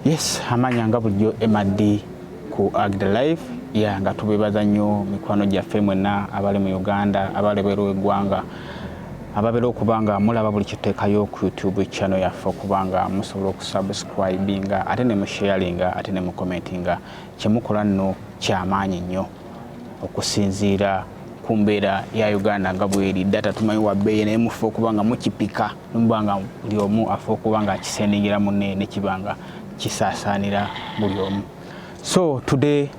yes amanya nga bulijjo mad ku agd life ya nga tubebaza nnyo mikwano gyaffe mwenna abali mu uganda abali bweru wegwanga ababeera okuba nga mulaba buli kiteekayo ku youtube channel yaffe okuba nga musobola okusubscribinga ate ne musharinga ate ne mucommentinga kyemukola nno kyamaanyi nnyo okusinziira ku mbeera ya uganda nga bweri data tumanyi wabeeyi naye mufe okuba nga mukipika Nuba nga buli omu afa okuba nga akisenengera munne nekiba nga kisaasaanira buli omu. So today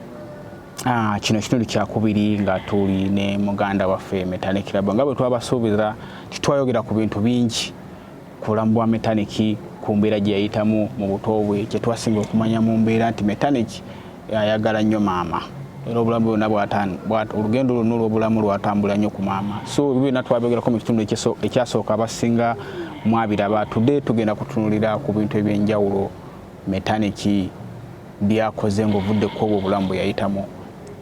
uh, kino kitundu kyakubiri nga tuli ne muganda waffe Metanik Lab nga bwe twabasuubiza titwayogera ku bintu bingi ku bulamu bwa Metanik ku mbeera gye yayitamu mu buto bwe kye twasinga okumanya mu mbeera nti Metanik ayagala nnyo maama era obulamu bwona olugendo lwonna olwobulamu lwatambula nnyo ku maama so byona twabyogerako mu kitundu ekyasooka abasinga mwabiraba tude tugenda kutunulira ku bintu ebyenjawulo metaniki byakoze ngaovudde ku obwo obulamu bweyayitamu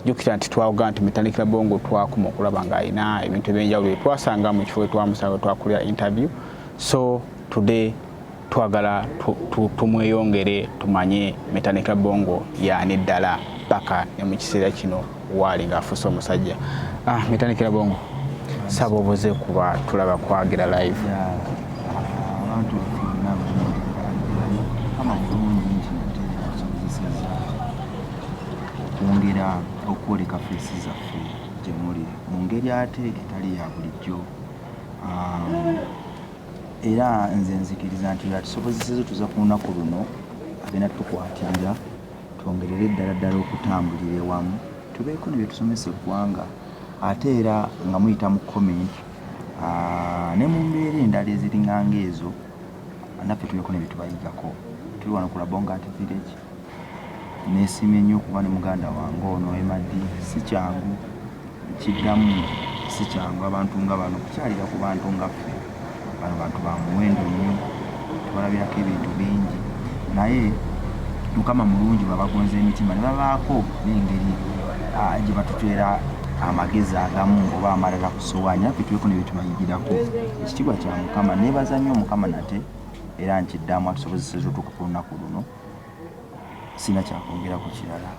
jukira nti twaoga nti metanikira bongo twakuma okulaba ngaalina ebintu ebyenjawulo etwasanga mu kifo etwamusanga twakulira interview so today twagala tumweyongere tumanye metanika bongo yaani ddala paka ne mu kiseera kino waali ng'afuuse omusajja ah, metanikira bongo saba obuze kuba tulaba kwagira live okwongera okwoleka feesi zaffe gyemuli mu ngeri ate etali ya bulijjo um, Era nze nzikiriza nti y'atusobozeseza tuza ku lunaku luno agenda tukwatirira twongerere ddala ddala okutambulira ewamu tubeeko ne bye tusomesa eggwanga ate era nga muyita mu comment ah, ne mu mbeera endala eziringanga ezo naffe tubeeko ne bye tubayigako tuli wano ku Labonga Art Village Nesiimye nnyo okuba ne muganda wange ono Emma Dee, si kyangu nkiddamu si kyangu abantu nga bano kukyalira ku bantu nga ffe bano bantu ba muwendo nnyo tubalabirako ebintu bingi naye mukama mulungi babagonza emitima ne babaako n'engeri ah, gye batuteera amagezi agamu oba amalala ku sowaani affe tuweko ne bye tubayigirako ekitiibwa kya mukama nebaza nnyo mukama nate era nkiddamu atusobozeseza otuuka ku lunaku luno sina kyakwongera ku kirala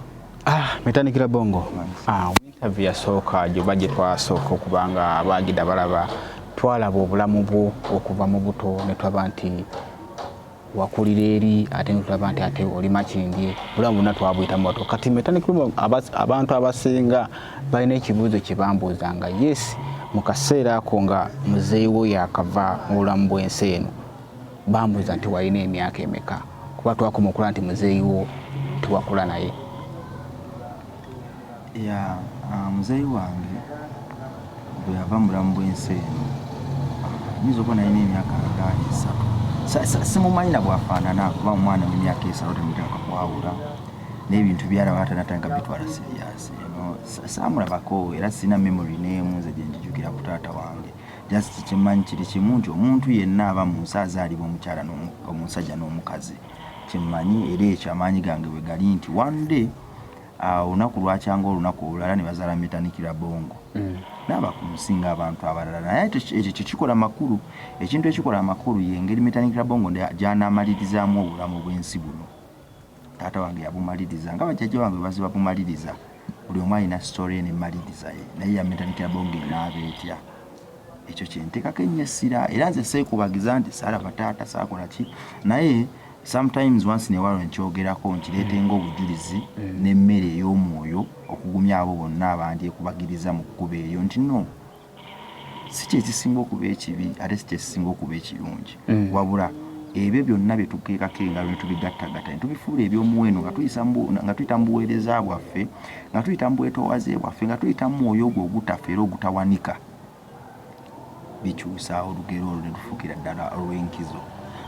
ah, metandikira bongo ah, interview yasooka gyoba gye twasooka okuba nga baagida balaba twalaba obulamu bwo okuva mu buto ne tulaba nti wakulira eri ate netulaba nti ate oli makindye bulamu bonna twabuyitamu bato kati metandikira abantu abasinga balina ekibuuzo kye bambuuza nga yes mu kaseera ako nga muzeeyi wo yakava mu bulamu bw'ensi eno bambuuza nti walina emyaka emeka kuba twakoma okula nti muzeeyi wo tewakula naye ya ah, muzeeyi wange bwe yava mu bulamu bw'ensi eno nyinza okuba nalina emyaka nga esatu simumanyi na bwafaanana kuba omwana w'emyaka esatu temuteka kwawula n'ebintu byalaba atanatanga bitwala siriyaasi saamulabako era sirina memory n'emu nze gye njijukira ku taata wange just kyemmanyi kiri kimu nti omuntu yenna aba mu nsi azaalibwa omukyala omusajja n'omukazi kyemmanyi era ekyo amaanyi gange bwe gali nti one day ah, olunaku lwakyanga olunaku olulala ne bazaala metanikira bongo mm. naaba ku nsi ng'abantu abalala naye ekyo kyekikola makulu ekintu ekikola amakulu ye engeri metanikira bongo gyanaamalirizaamu obulamu bw'ensi buno taata wange yabumaliriza nga bajjajja wange bazi babumaliriza buli omu alina sitore ene maliriza ye naye yamentalikira bonga enaaba etya ekyo kyenteekako ennyo essira era nze seekubagiza nti saalaba taata saakola ki naye sometimes once newalo nkyogerako nkireete mm. ngaobujulizi mm. n'emmere ey'omwoyo okugumya abo bonna abandyekubagiriza mu kkuba eryo nti no si kyekisinga okuba ekibi ate si kyekisinga okuba ekirungi mm. wabula ebyo byonna byetukeekako engalo netubigattagatta netubifuula ebyomuwendo nga tuyita mu buweereza bwaffe nga tuyita mu bwetowaze bwaffe nga tuyita mu mwoyo ogwo ogutafa era ogutawanika bikyusa olugero olwo netufuukira ddala olw'enkizo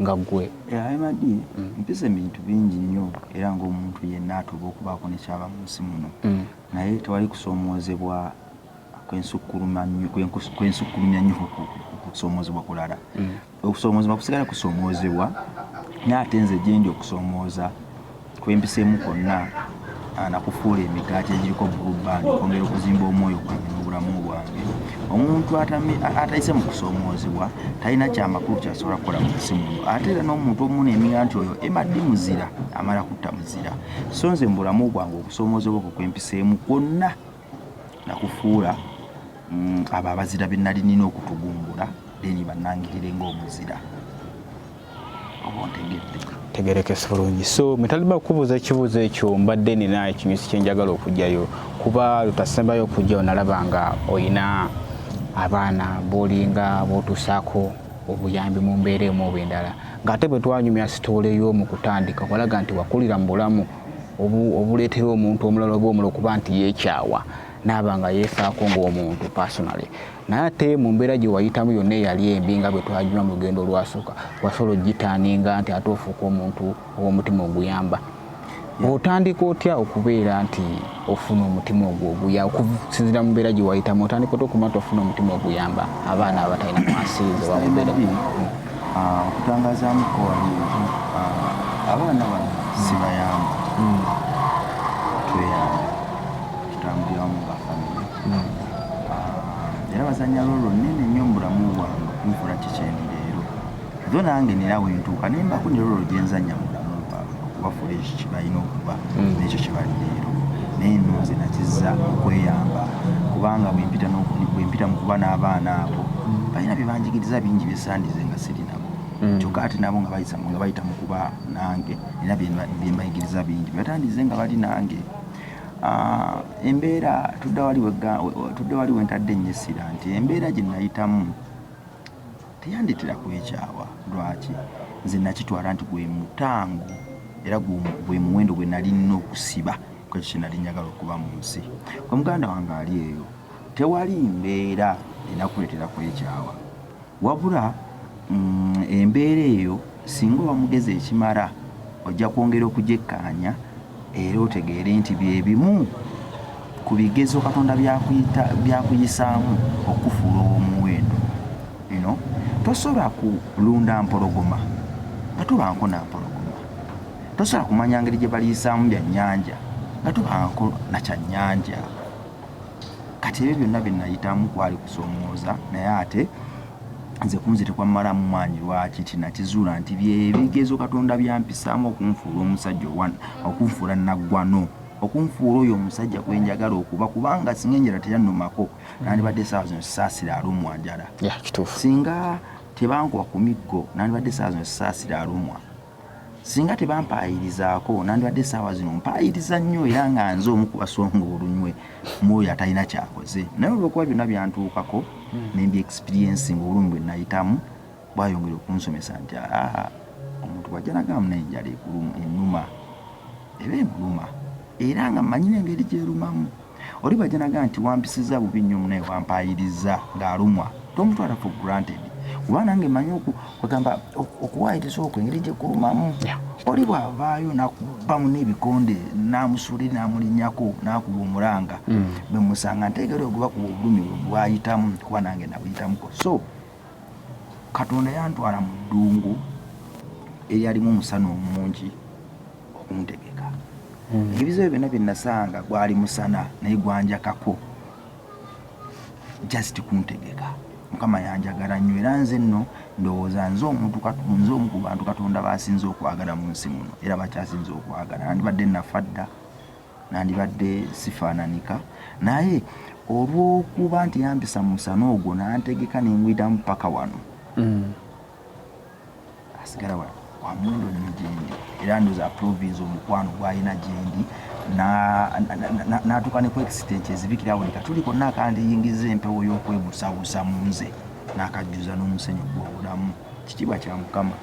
nga gwe Alimadi mpisa ebintu bingi nnyo era ng'omuntu yenna atuuba okubaako ne ky'aba mu nsi muno naye tewali kusoomoozebwa kwensukkuluma nnyo kwensukkulumya nnyo kusoomoozebwa kulala okusoomoozebwa kusigala kusoomoozebwa naye ate nze gye ndi okusoomooza kwempiseemu kwonna nakufuula emigaati egiriko bulubandi okwongera okuzimba omwoyo gwange n'obulamu bwange omuntu atayise mu kusoomoozebwa talina kyamakulu kyasobola kukola mu nsi muno ate era n'omuntu omuna emiga nti oyo emaddi muzira amala kutta muzira so nze mu bulamu bwange okusoomoozebwa okwo kwempiseemu kwonna nakufuula mm, abo abazira be nali nina okutugumbula deni bannangirire ng'omuzira oba ontegedde tegerekese bulungi so mwetalima kubuuza ekibuuzo ekyo mbadde nina ekinyusi kyenjagala okugyayo kuba lutasembayo okugyayo nalaba nga olina abaana bolinga botusaako obuyambi mu mbeera emu oba endala ng'ate bwe twanyumya sitoole y'omu kutandika walaga nti wakulira mu bulamu obuleetera omuntu omulala oba omulala okuba nti yeekyawa naaba nga yeefaako ng'omuntu personally naye ate mu mbeera gye wayitamu yonna eyali embi nga bwe twagiwa mu lugendo olwasooka wasobola ogitaaninga nti ate ofuuka omuntu ow'omutima oguyamba otandika otya okubeera nti ofuna omutima ogwo oguya okusinzira mu mbeera gye wayitamu otandika ota okumata ofuna omutima oguyamba abaana abatalina mwasiriza bamubeera ah, okutangazaamu kowali ah, abaana bano sibayamba hmm. tweyamba tutambuliramu nga famiry hmm. ah, era bazanya lolo nene nnyo mu bulamu bwange kunfula kikyendi leero Zo nange nina wentuuka ne mbako ne lolo gye nzannya mu bulamu bwabwe okuba fuleeshi kye balina okuba mm. n'ekyo kye bali leero naye nno nze nakizza okweyamba kubanga bwe mpita mu kuba n'abaana abo mm. balina bye banjigiriza bingi bye sandize nga siri nabo mm. kyokka ate nabo nga bayisa nga bayita mu kuba nange era bye mbayigiriza bingi bye batandize nga bali nange ah, embeera tudda wali wentadde ennyo essira nti embeera gye nayitamu Teyandetera kwekyawa. Lwaki? Nze nakitwala nti gwe mutango era gwe muwendo gwe nalina okusiba ku ekyo kye nali njagala okuba mu nsi. Gwe muganda wange ali eyo, tewali mbeera enakuleetera kwekyawa. Wabula mm, embeera eyo singa oba mugezi ekimala ojja kwongera okugyekkaanya Era otegeere nti bye bimu ku bigezo Katonda by'akuyisaamu okukufuula ow'omuwendo. Bino tosobola kulunda mpologoma nga tobanko na mpologoma. Tosobola kumanya ngeri gye baliyisaamu bya nnyanja nga tobanko na kya nnyanja. Kati ebyo byonna bye nayitamu kwali kusoomooza naye ate Nze kunze tekwammalamu maanyi lwaki ti nakizuula nti bye bigezo Katonda by'ampisaamu okunfuula omusajja owa okunfuula nnaggwano okunfuula oyo omusajja gwe njagala okuba kubanga singa enjala teyannumako nandibadde essaawa zino sisaasira alumwa njala singa tebankuba ku miggo nandibadde essaawa zino sisaasira alumwa Singa tebampaayirizaako nandibadde essaawa zino mpaayiriza nnyo era nga nze omu ku basonga olunywe mu oyo atalina kyakoze naye olwokuba byonna byantuukako hmm. ne mbi experiensi nga obulumi bwe nayitamu bwayongera okunsomesa nti aa omuntu bwajja nagamba naye enjala enuma eba emuluma era nga mmanyi n'engeri gyerumamu Oli bwajja naga nti wampisizza bubi nnyo munaye wampaayiriza ng'alumwa tomutwala for granted kuba nange manyi kwegamba okuwaayiriza okwo engeri gye kulumamu oli bw'avaayo nakubamu n'ebikonde n'amusuuli n'amulinyako n'akuba omulanga mm. bwe musanga nteegera oguba kuba obulumi bwe bwayitamu kuba nange nabuyitamuko so katonda yantwala mu ddungu eryalimu omusana omungi okuntegeka hmm. ebizibu byonna bye nasanga gwali musana naye gwanjakako just kuntegeka mukama yanjagala nnyo era nze nno ndowooza nze omuntu nze omu ku bantu katonda basinze okwagala mu nsi muno era bakyasinze okwagala nandibadde nafa dda nandibadde sifaananika naye olw'okuba nti yambisa musana ogwo nantegeka nengwitamu paka wano mm. asigala wa wamyondo nnyo gyendi era ndoza aprovince omukwano gwalina gyendi natuuka ne ku extent ezibikira buli katuli konna akandiyingiza empewo y'okwebusabusa mu nze nakajjuza n'omusenyu gw'obulamu kitiibwa kya mukama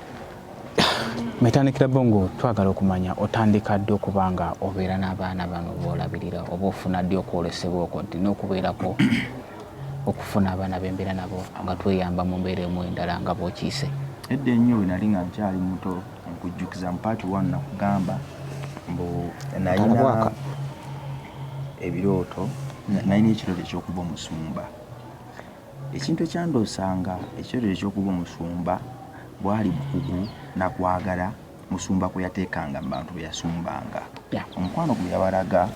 metandikira bongo twagala okumanya otandika ddi okuba nga obeera n'abaana bano boolabirira oba ofuna ddi okwolesebwa okwo ddi n'okubeerako okufuna abaana bembeera nabo nga tweyamba mu mbeera emu endala nga bwokiise edda ennyo we nali nga nkyali muto nkujjukiza mu paati one nakugamba mbu nayina ebirooto nalina ekirooto ekyokuba omusumba ekintu ekyandoosanga ekirooto ekyokuba omusumba bwali bukugu nakwagala Musumba kwe yateekanga mu bantu be yasumbanga. Omukwano gwe yabalaga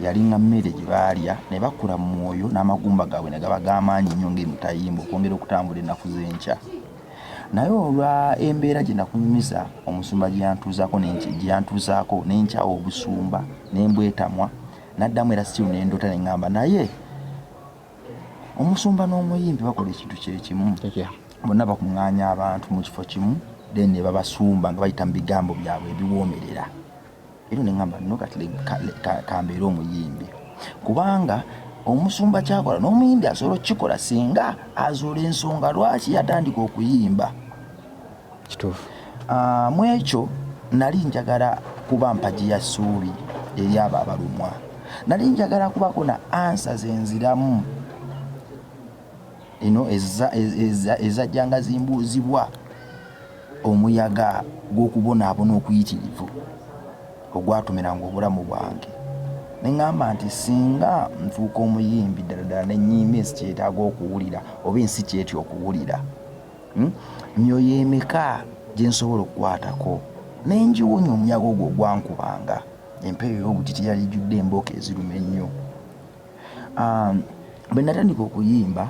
yalinga mmere gye baalya ne bakula mu mwoyo n'amagumba gaabwe ne gaba g'amaanyi nnyo ng'emitayimbwa okwongera okutambula ennaku z'enkya. Naye olwa embeera gye nakunyumiza omusumba gye yantuuzaako gye yantuuzaako ne nkyawa obusumba ne mbwetamwa naddamu era siru ne ndota ne ŋŋamba naye omusumba n'omuyimbi bakola ekintu kyekimu bonna bakuŋŋaanya abantu mu kifo kimu then ne babasumba nga bayita mu bigambo byabwe ebiwoomerera era ne ŋamba no kati kambeere omuyimbi kubanga omusumba kyakola n'omuyimbi asobola okukikola singa azuula ensonga lwaki yatandika okuyimba kituufu ah, mu ekyo nali njagala kuba mpagi ya ssuubi eri abo abalumwa nali njagala kubako na ansa zenziramu ino ezajjanga zimbuuzibwa omuyaga gw'okubonaabona okuyitirivu ogwatumiranga obulamu bwange neŋamba nti singa nfuuka omuyimbi ddala ddala nenyiima ensi kyetaaga okuwulira oba ensi kyetya okuwulira Hmm? myoyo emeka gye nsobola okukwatako ne ngiwonya omunyago ogwo ogwankubanga empeeyo ey'obutiti yali ijjudde embooko eziruma ennyo um, bwe natandika okuyimba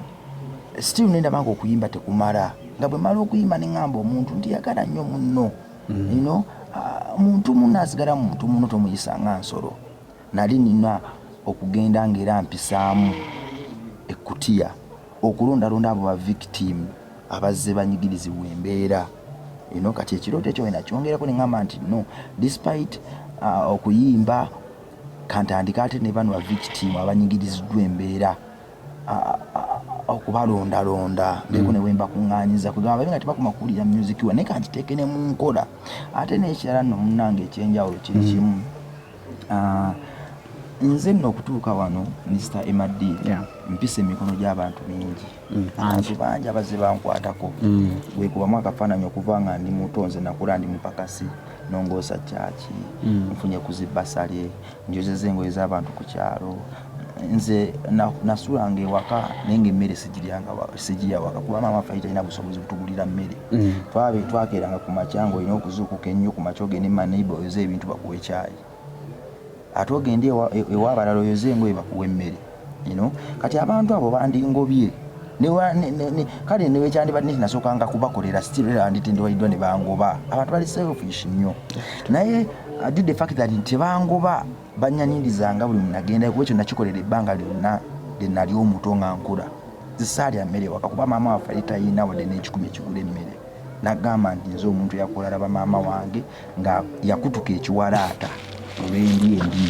still nendaba nga okuyimba tekumala nga bwe mala okuyimba ne ŋŋamba omuntu nti yagala nnyo munno hmm. ino uh, muntu munno asigala muntu munno tomuyisa nga nsolo Nali nnina okugenda nga era mpisaamu ekkutiya okulondalonda abo ba victim abazze banyigirizibwa embeera eno. Kati ekirooto ekyo wena kyongerako nengamba nti no despite uh, okuyimba kantandika ate ne bano ba victim abanyigiriziddwa embeera okubalondalonda mbeeko mm. newemba kuŋŋanyiza kwegamba babe nga tebakoma kuwulira music wa naye kangiteeke ne mu nkola ate n'ekirala nno munnange ekyenjawulo kiri mm. kimu Uh, nze nno okutuuka wano minisita mad yeah. mpisa emikono gy'abantu mingi mm, abantu mm. bangi abazze bankwatako mm. wekubamu akafaananyi okuva nga ndi muto nze nakula ndi mupakasi nongoosa kyaki mm. nfunye kuzibasale njozeza engoye z'abantu ku kyalo nze nasulanga ewaka naye nga emmere sigiryangasigiya waka kuba maama ffe talina busobozi butugulira mmere mm. twabe twakeranga ku makya nga olina okuzuukuka ennyo ku makya ogende maneiba oyoze ebintu bakuwa ekyayi ate ogende ewa abalala oyoze engoye bakuwa emmere ino kati abantu abo bandingobye kale newekyandibadde nti nasookanga kubakolera stiranditendewaliddwa ne bangoba abantu bali selfish nnyo naye uh, did the fact that tebangoba Bannyanindizanga buli mwe nagendako kuba ekyo nakikolera ebbanga lyonna lye nali omuto nga nkula. Nze ssaalya mmere waka kuba maama waffe yali talina wadde n'ekikumi ekigula emmere. Nagamba nti nze omuntu eyakola alaba maama wange nga yakutuka ekiwalaata olw'endya embi.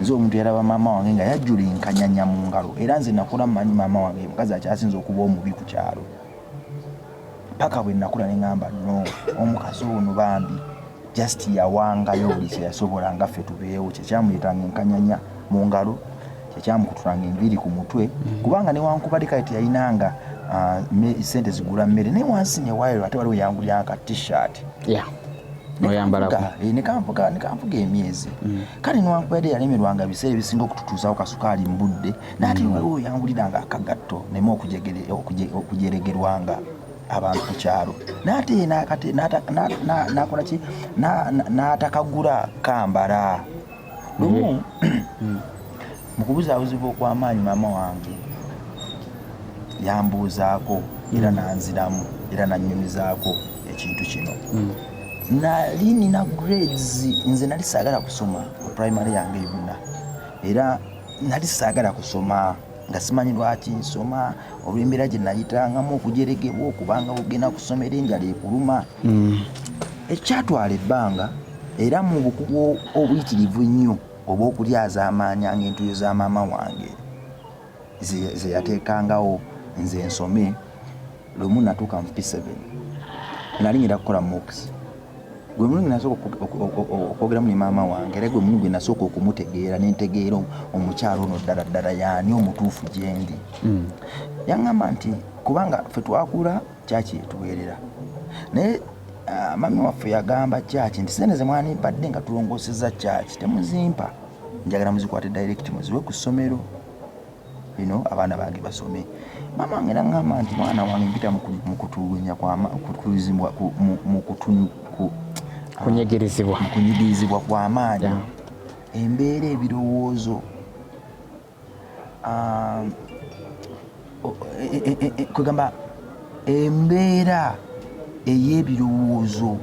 Nze omuntu yalaba maama wange nga yajjula enkanyanya mu ngalo era nze nakula mmanyi maama wange ye mukazi akyasinze okuba omubi ku kyalo. paka bwe nakula ne ŋŋamba no omukazi ono bambi just yawangayo buli kye yasobola nga ffe tubeewo kyekyamuyitanga enkanyanya mu ngalo kyekyamukutulanga enviiri ku mutwe mm. kubanga newankubadde kale teyalinanga ah, sente zigula mmere naye wansi newayiro ate waliwo yangulyanga ka t-shirt nekampuga eh, emyezi mm. kale newankubadde yalemerwanga ebiseera ebisinga okututuuzawo kasukaali mu budde naate mm. waliwo yangulira nga akagatto neme okujeregerwanga abantu ku kyalo naate nakola ki natakagula kambala lumu mm. mm. mukubuzabuzibwa okwamaanyi maama wange yambuuzaako era nanziramu era nanyumizaako ekintu kino nali nina grades nze nali sagala kusoma primary yange yonna era nali saagala kusoma nga simanyi lwaki nsoma olw'embeera gye nayitangamu okujeregebwa okubanga ogenda kusomera enjala ekuluma mm. ekyatwala ebbanga era mu bukugu obuyitirivu ennyo obw'okulyazaamaanya ng'entuyo za maama wange ze yateekangawo nze nsome lumu natuuka mu p7 nali ngenda kukola mox gwe mulundi nasooka okwogeramu ne maama wange era gwe mulundi gwe nasooka okumutegeera nentegeera omukyalo ono ddala ddala yaani omutuufu gyendi hmm. yaŋŋamba nti kubanga fe twakula kyaki etuweerera naye ah, mami waffe yagamba kyaki nti sente zemwanimpadde nga tulongoseza kyaki temuzimpa njagala muzikwate direct muziwe ku ssomero bino abaana bange basome maama wange nangamba nti mwana wange mpita mukutulugunya kwamkutulizibwa kunyigirizibwa kunyigirizibwa kwamaanyi embeera ebirowoozo um, e, e, e, kwegamba embeera ey'ebirowoozo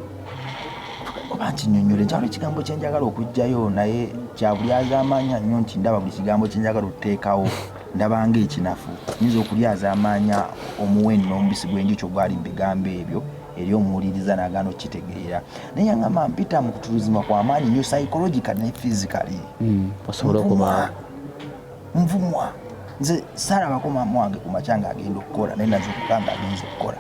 oba nti nyonyola enkyalo ekigambo kyenjagala okugjayo naye kyabulyazamaanya nnyo nti ndaba buli kigambo kyenjagala okuteekawo ndabanga ekinafu nyinza okulyazamaanya omuwendo n'omubisi gwenjukyo gwali mu bigambo ebyo eri omuwuliriza nagana okukitegeera naye yangamba mpita mu kutuluzima kwamaanyi nyo psychological ne physically mm, osobola okuba nvumwa nze saalabako maama wange ku makya ng'agenda okukola naye nazuukuka ng'agenza okukola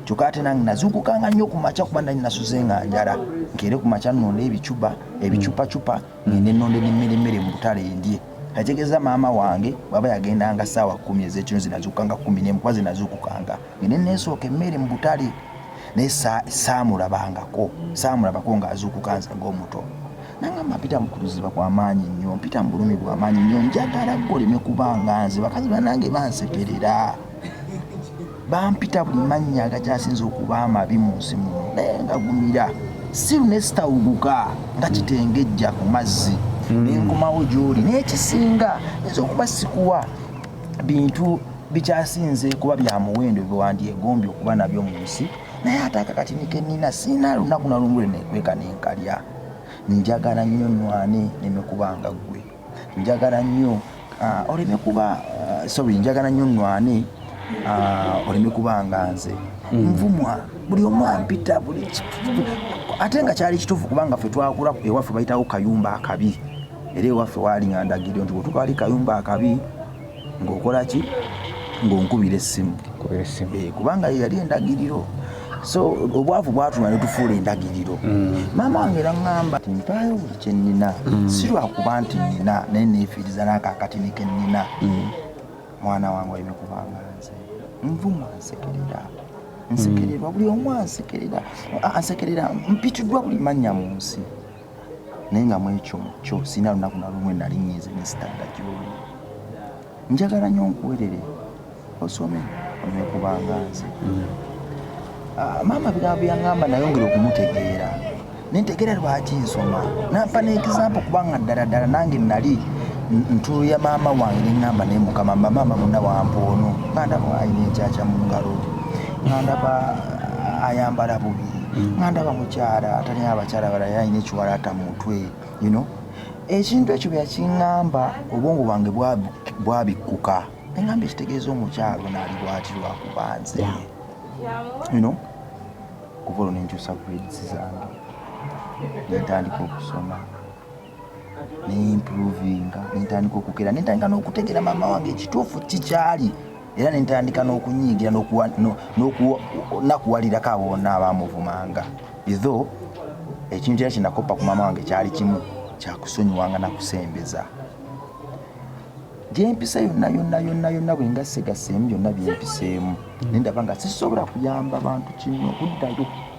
kyokka ate nange nazuukuka nga nnyo ku makya kuba nali nasuze nga njala nkeere ku makya nnonda ebicuba ebicupacupa ngende nnonda n'emmere mu butale endye nategeeza maama wange bwaba yagendanga saawa kumi ezekino zinazuukanga kumi nemu kuba zinazuukukanga Ngende neesooka emmere mu butale naye saamulabangako saamulabako ng'azuukuka nze ng'omuto nangamba mpita mukuziba kwa maanyi nnyo mpita mu bulumi bwa maanyi nnyo njagala goleme kubanga nze bakazi banange bansekerera bampita buli mannya agakyasinza okuba amabi mu nsi muno naye ngagumira siru nesitawuguka nga kitengejja ku mazzi hmm. nenkomawo gyoli naye kisinga nza okuba sikuwa bintu bikyasinze kuba bya muwendo byewandyegombye okuba nabyo mu nsi naye ate akakatini kenina siina lunaku nalumu lwe nekweka nenkalya njagala nnyo nwane nemekubanga ggwe njagala nnyo ah, oleme kuba ah, sorry njagala nnyo nwane ah, oleme kubanga nze hmm. nvumwa buli omu ampita buli ate nga kyali kituufu kubanga ffe twakula ewaffe bayitawo kayumba akabi era ewaffe waali nga ndagiryo nti bwetukaali kayumba akabi ng'okola ki ng'onkubira essimu eh, kubanga yeyali endagiriro so obwavu bwatuma netufuula endagiriro mm. maama wange era ŋŋamba ti mpaayo buli kye nnina mm. si lwakuba nti nnina naye neefiiriza n'akaakatini ke nnina mm. mwana wange oleme kubanga nze nvuma nsekerera nsekererwa buli omu ansekerera ansekerera mpitiddwa buli mannya mu nsi naye nga mwekyo kyo sirina lunaku na lumu enali nyiize nesitadda gyoli njagala nyo nkuwerere osome onywe kubanga nze mm. ah, maama bigambo byaŋamba nayongera okumutegeera nentegera lwaki nsoma nampa nekisampo kubanga ddala ddala nange nali ntulo ya maama wange neŋamba naye mukama mba maama muna wampa ono ngandaba alina ekyakya mu ngalo ngandaba ah, ayambala bubi nga ndaba mukyala atalina abakyala balala alina ekiwalaata mu mutwe you know ekintu ekyo byakiŋŋamba obwongo bwange bwabikkuka eŋŋamba ekitegeeza omukyalo naali bwati lwakuba nze ino kuva olwo nenkyusa grades zange nentandika okusoma nemprovinga nentandika okukeera nentandika n'okutegera maama wange ekituufu kikyali era nentandika n'okunyiigira nakuwalirako abo bonna abamuvumanga itho ekintu era kyenakoppa ku maama wange kyali kimu kyakusonyiwanga nakusembeza gyempisa yonna yonna yonna yonna bwengasegaseemu byonna byempiseemu nendaba nga sisobola kuyamba bantu kino okuddayo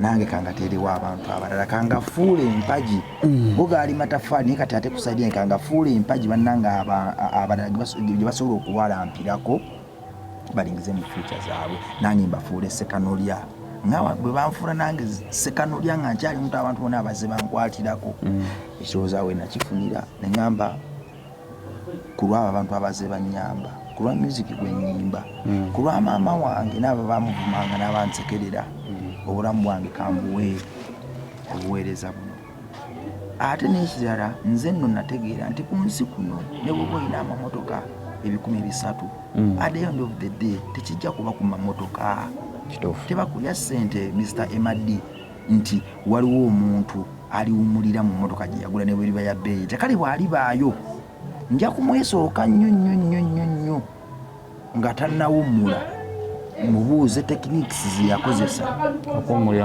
nange kangateerewo abantu abalala kangafuula empagi mm. go gaali matafaali naye kati ate kusaidi en kangafuula empagi bannange abalala gye basobola okuwalampirako balingize mu fyuca zaabwe nange mbafuula esekanolya nawa bwe banfuula nange sekanolya nga nkyali mutu abantu bona abaze bankwatirako mm. ekirowooza we nakifunira neŋamba ku lw'abo abantu abaze bannyamba ku lwa myuziki gwe nnyimba mm. ku lwa maama wange n'abo baamuvumanga n'abansekerera mm. obulamu bwange kambuwe obuweereza buno ate n'ekirala nze nno nategeera nti ku nsi kuno ne bwoba olina amamotoka ebikumi bisatu mm. at the end of the day tekijja kuba ku mamotoka tebakulya ssente mr emad nti waliwo omuntu aliwumulira mu mmotoka gye yagula ne bweriba ya bbeeyi etya kale bw'alibaayo nja kumwesooka nnyo nnyo nnyo nnyo nnyo nga tannawummula mubuuze techniques ze yakozesa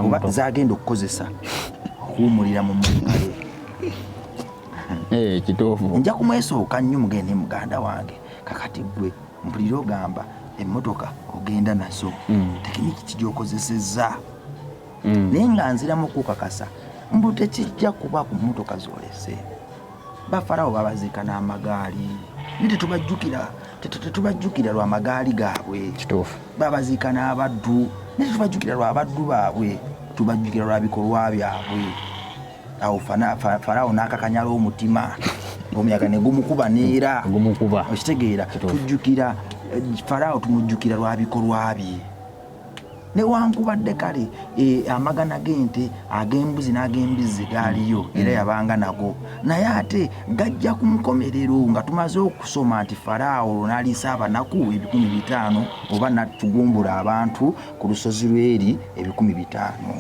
oba zagenda okukozesa okuwumulira mu mmotoka ye eh, kituufu nja kumwesooka nnyo mugende muganda wange kakati gwe mpulira ogamba emmotoka ogenda nazo mm. tekiniki kigyokozesezza mm. naye nga nziramu okukakasa mbu tekijja kuba ku mmotoka zolese bafarawo babaziika n'amagaali naye tetubajjukira tetubajjukira lwa magaali gaabwe babaziika n'abaddu naye tetubajjukira lwa baddu baabwe tubajjukira lwa bikolwa byabwe awo faraawo n'akakanyala omutima omuyaga ne gumukuba neera okitegeera tujjukira eh, faraawo tumujjukira lwa bikolwa bye newankubadde kale eh, amagana g'ente ag'embuzi n'ag'embizzi gaaliyo mm. era yabanga nago naye ate gajja ku nkomerero nga tumaze okusoma nti faraawo olwo n'aliisa abanaku ebikumi bitaano oba natugumbula abantu ku lusozi lweri ebikumi bitaano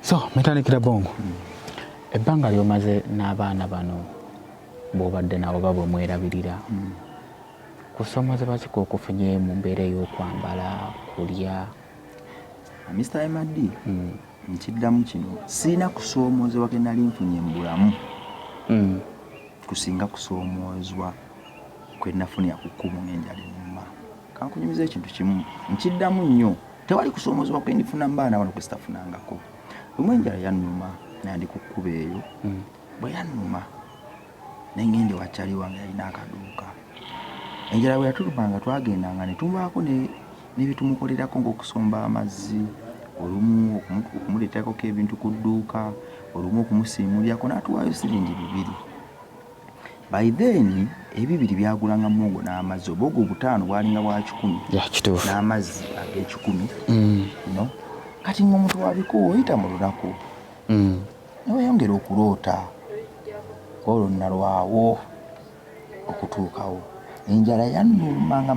so metandikira bongo ebbanga lyomaze n'abaana bano bwobadde nabo oba bwemwerabirira hmm. kusoma zebazika okufunye mu mbeera ey'okwambala kulya ah, mr md hmm. nkiddamu kino sirina kusoomoozebwa ke nali nfunye mu bulamu hmm. kusinga kusoomoozwa kwe nafunira ku kkubo ng'enjala ennuma kankunyumiza ekintu kimu nkiddamu nnyo tewali kusoomozebwa kwe ndifuna mbaana wano kwesitafunangako lumu enjala yannuma nandi ku kkuba eyo hmm. bwe yannuma nengende wakyali wange yalina akaduuka enjala bwe yatuluma nga twagendanga ne tubaako nebitumukolerako ngaokusomba amazzi olumu okumuleeterako ko ebintu ku dduuka olumu okumusiimulyako n'atuwaayo siringi bibiri By then ebibiri byagulanga muwogo n'amazzi oba ogwo obutaano bwalinga bwa kikumi n'amazzi ag'ekikumi mm. no kati ng'omuntu wabiko oyita mu lunaku mm. neweyongera okuloota olwo nalwawo okutuukawo enjala yanuma nga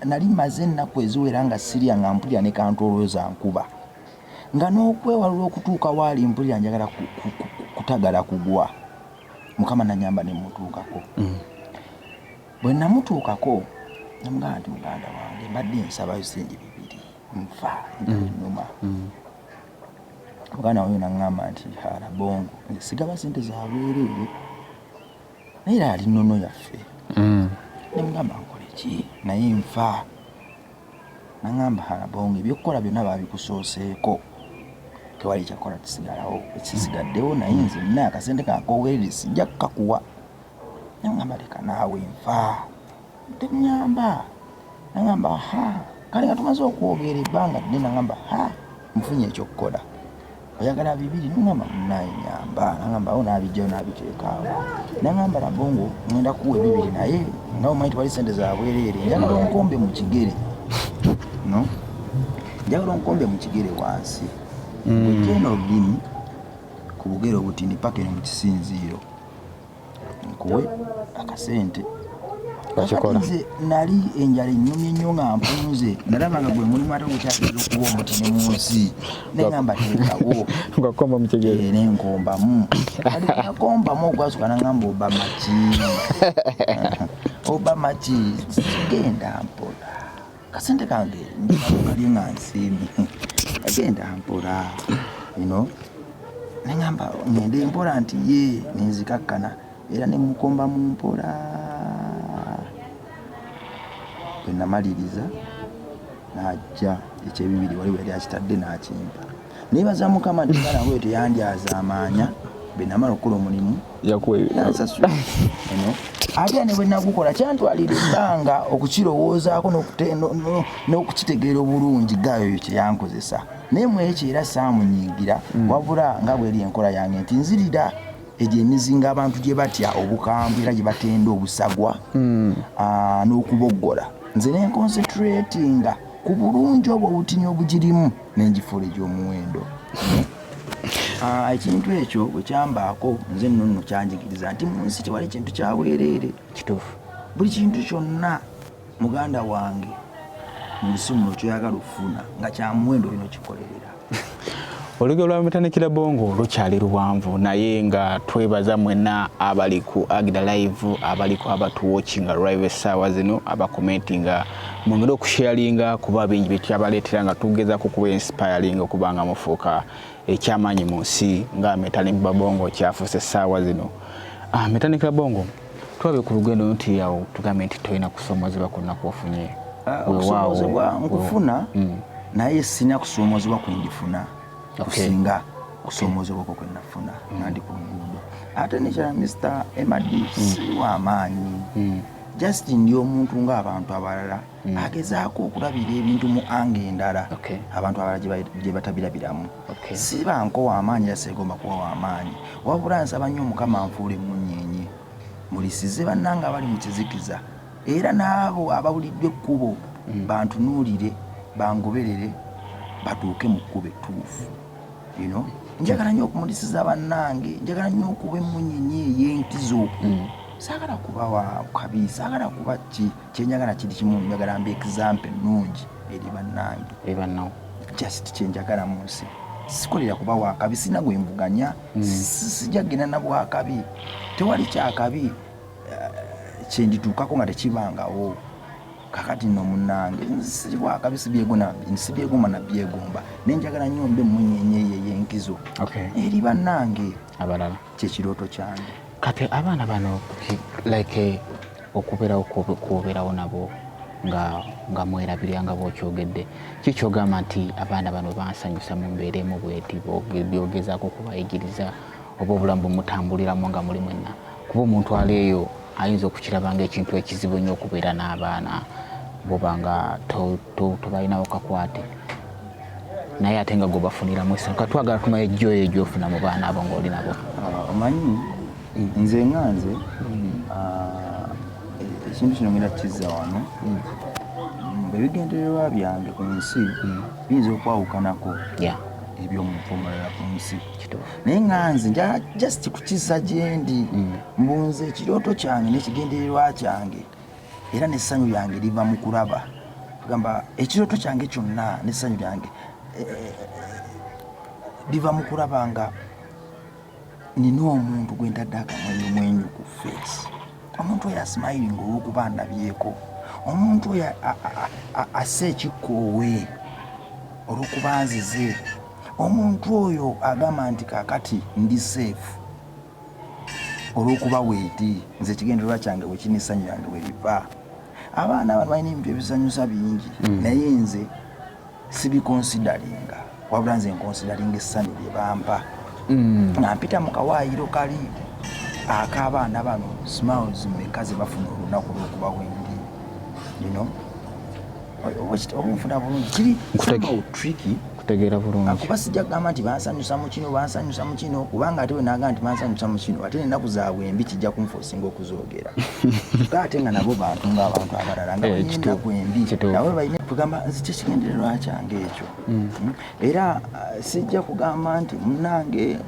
nali maze ennaku eziwera nga sirya nga mpulira ne kantolooza nkuba nga n'okwewalula okutuuka waali mpulira njagala kutagala kugwa mukama nanyamba nemutuukako mm. bwe namutuukako namugamba nti muganda wange mbadde nsabayo sente bibiri nfa numa mm. mm. muganda wange naŋŋamba nti hala bongo nze sigaba sente zabwereere naye era ali nono yaffe mm. nemugamba nkoleki naye nfa nangamba harabonga ebyokukola byonna babikusooseeko tewali kyakola kisigalawo ekisigaddewo naye nze nina akasente kakowerere sijja kukakuwa nangamba leka naawe nfa tenyamba nangamba ha kale nga tumaze okwogera ebbanga ddene nangamba ha nfunye ekyokukola oyagala bibiri nengamba munaye nyamba nangamba awo nabijjayo nabiteekaawo nangamba lago ngo ngenda kuwa ebibiri naye nga omanyi tewali sente zabwereere njagala onkombe mu kigere no njagala onkombe mu kigere wansi mm. wejeno olulimi ku bugere obutini paka eno mu kisinziiro nkuwe akasente nze nali enjala enyumye nnyo nga mpunze nalaba nga gwe mulimu ate gukyageza okuba omuti ne mu nsi nengamba teekawo eh, nenkombamu nakombamu ogwasuka nangamba obama ki obama ki sigenda mpola kasente kange ndikalye nga nsiimi agenda mpola ino neŋamba ŋende mpola nti ye nenzikakkana era nemukomba mu mpola bwe namaliriza n'ajja ekyebibiri waliwo yali akitadde n'akimpa nebaza mukama nti mwana wange teyanjaza amaanya benamala okukola omulimu yansasula eno ate ne bwe nagukola kyantwalira ebbanga okukirowoozaako n'okukitegeera obulungi gayoyo kyeyankozesa naye mu ekyo era saamunyiigira mm. wabula nga bweri enkola yange nti nzirira egyo emizinga abantu gye batya obukambwe era gye batenda obusagwa mm. n'okuboggola nze nenkonsetratinga ku bulungi obwo obutini obugirimu nengifuula egyomuwendo ah, ekintu ekyo wekyambaako nze nno nno kyanjigiriza nti mu nsi tewali kintu kyabwereere kituufu buli kintu kyonna muganda wange mu nsi muno kyoyagala okufuna nga kyamuwendo olina okikolerera olugero lwa mutanikira bongo lukyali luwanvu naye nga twebaza mwena abali ku agida live abaliku abatuwokinga live essaawa zino abakomentinga mwongere okusharinga kuba bingi byetukyabaleetera nga tugezaako kuba inspiring okuba nga mufuuka ekyamaanyi mu nsi nga metanik babongo kyafuuse essaawa zino ah, metanik babongo tulabe ku lugendo nti awo tugambe nti tolina kusoomozebwa kwonna kwofunye ah, okusoomozebwa nkufuna mm. naye sina kusoomozebwa kwendifuna kusinga kusoomozebwa okwo kwenafuna mm. nandi ku luguudo ate nekyala mr emadi mm. siwa amaanyi just ndi omuntu nga abantu abalala mm. agezaako okulabira ebintu mu anga endala okay. abantu abalala gyebatabirabiramu okay. siba nkowa amaanyi era segomba kuwa wamaanyi wabula nsaba nnyo mukama nfuule munyenye mulisize bannanga abali mu kizikiza era n'abo abawulidde ekkubo mm. bantunuulire bangoberere batuuke mu kkubo ettuufu you know njagala nyo okumulisiza bannange njagala nyo okuba emunyenye eyenkizo mm. sagala kuba wakabi sagala kuba ki kyenjagala kiri kimu njagala mba example ennungi eri bannange ebanawo just kyenjagala mu nsi sikolera kuba wakabi sina gwemvuganya mm. sijja kugenda na bwakabi tewali kyakabi eh, kyendituukako nga tekibangawo kakati no munange nzisiri wa kabisi byego na nsi byego mana byego mba nenjagala nyo mbe munyenye ye yenkizo okay eri banange abalala kye kiroto kyange kati abana bano like eh, okubera okubera onabo nga nga mwera bya nga bo kyogedde kikyo gama nti abana bano bansanyusa mu mbere mu bweti bo byogeza ko kubayigiriza obobulamu mutambulira mu nga mulimu na kuba omuntu ali eyo ayinza okukiraba ngaekintu ekizibu nnyo okubeera n'abaana boba nga tobalinawo kakwate naye ate nga gwebafuniramu essanyu ka twagala tumaye joyo gyofuna mu baana abo ngaoli nabo ah, omanyi nze nga nze mm. ah, ekintu kino ngenda kukizza wano mm. ebigendererwa byange ku nsi mm. biyinza okwawukanako ebyomumpomalala ku nsi naye nga nze nja just kukisa gyendi mm. mbunze ekirooto kyange n'ekigendererwa kyange era n'essanyu lyange liva mu kulaba gamba ekirooto kyange kyonna n'essanyu lyange eh, eh, liva mu kulaba nga nina omuntu gwe ntadde akamwenyu mwenyu ku feesi omuntu oyo asimayiringa olw'okuba ndabyeko omuntu oyo assa ekikkoowe olw'okuba nzize Omuntu oyo agamba nti kakati ndi safe olwokuba wendi nze ekigendererwa kyange wekiri nessanyu yange weriva abaana abantu balina ebintu ebisanyusa bingi mm. naye nze sibikonsidalinga wabula nze nkonsidalinga essanyu lyebampa mm. nga mpita mu kawaayiro kali ak'abaana bano smiles meka zebafuna olunaku lwokuba wendi you know obunfuna bulungi kiri somehow tricky kutegeera bulungi akuba sijja kugamba nti bansanyusa mu kino bansanyusa mu kino kubanga ate wenagamba nti bansanyusa mu kino ate ennaku zaabwe embi kijja kunfosinga okuzoogera ka ate nga nabo bantu ngaabantu abalala nga eh, ennaku embi nawe balina kugamba nzi kyekigendererwa kyange ekyo mm. hmm? era uh, sijja kugamba nti munange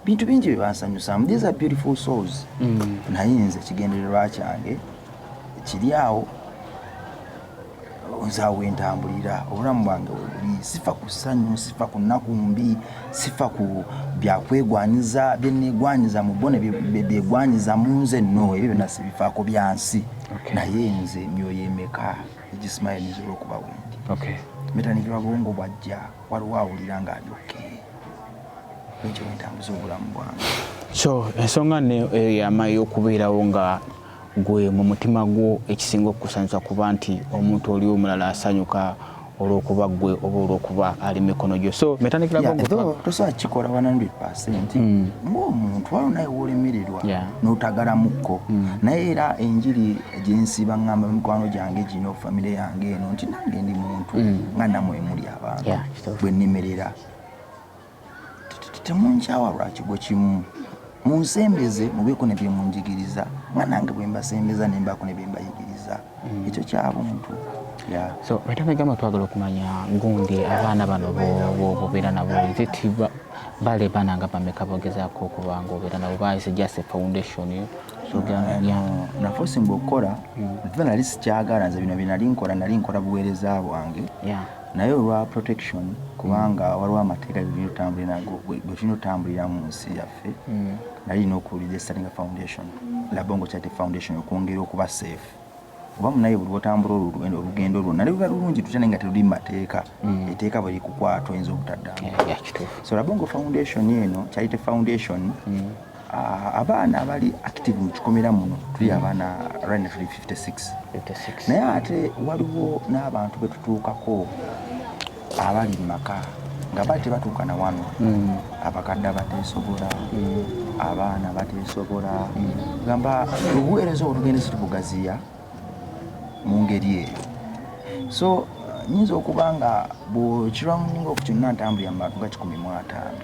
bintu bingi bye bansanyusamu these are beautiful souls mm. naye nze ekigendererwa kyange kiri awo nza wentambulira obulamu bwange webuli sifa ku ssanyu sifa ku nnaku mbi sifa ku byakwegwanyiza byenegwanyiza mu bo nebyegwanyiza mu nze no ebyo byona sibifaako byansi naye nze myoyo emeka egisimaya nizola okuba wendi metanikirwa bwongo bwajja waliwo awulira nga ali oke ekyo wentambuza obulamu bwange so ensonga ne eyama eh, yokubeerawo nga Gwe mu mutima gwo ekisinga okukusanyusa kuba nti omuntu oli omulala asanyuka olwokuba gwe oba olwokuba ali mikono gyo so metanikilaotosobola kikola 100 mm. ngaomuntu awo naye wolemererwa notagalamukko mm. naye era enjiri gyensi baŋamba mikwano gyange gino famire yange eno nti nange ndi muntu mm. nga namwe muli abantu bwenemerera temunkyawa lwa kigo kimu munsembeze mubeeko ne byemunjigiriza nga nange bwe mbasembeza ne mbaako ne bye mbayigiriza mm. ekyo kyabuntu so wetanga gamba twagala okumanya gundi abaana bano bobeera nabo zitiba bale baana nga bameka bogezaako okuba nga obeera nabo bayise just a foundation nafe osinga okukola nve mm. nali sikyagala nze bino byenali nkola nali nkola buweereza bwange naye olwa protection kubanga mm. waliwo amateeka getulina otambulira nago getulina otambulira mu nsi yaffe mm. nali lina okuwulira estalinga foundation labongo charity foundation okwongera okuba safe oba munaye buli wotambula olugendo olwo nali luba lulungi tutya naye nga teluli mumateeka mm. eteeka bwe likukwata oyinza obutaddamu so labongo foundation eno charity foundation Ah, abaana abali active mu kikomera muno tuli mm. abaana rina tuli 56 naye ate waliwo n'abantu be tutuukako abali mu maka nga bali tebatuuka na wano mm. abakadde abateesobola mm. abaana bateesobola gamba obuweereza obwo tugenda situbugaziya mu ngeri eyo so nyinza okuba nga bwekirwamuninga oku kyonna ntambulira mu bantu nga kikumi mu ataano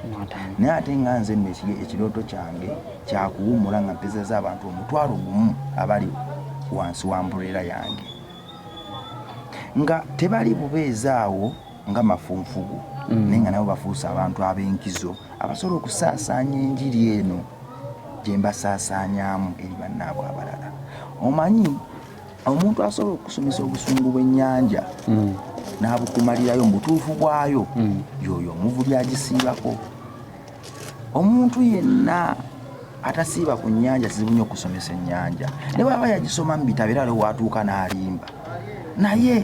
naye ate nga nze nno ekirooto kyange kyakuwummula nga mpezaza abantu omutwalo gumu abali wansi wa mbureera yange nga tebali bubeezi awo nga mafunfugu mm. naye nga nabo bafuuse abantu ab'enkizo abasobola okusaasaanya enjiri eno gye mbasaasaanyaamu eri bannaabwe abalala omanyi omuntu asobola okusomesa obusungu bw'ennyanja mm. n'abukumalirayo mu butuufu bwayo mm. yoyo omuvubi agisiibako omuntu yenna atasiiba ku nnyanja kizibu nnyo okusomesa ennyanja ne bwaba yagisoma mu bitabo era lewatuuka n'alimba naye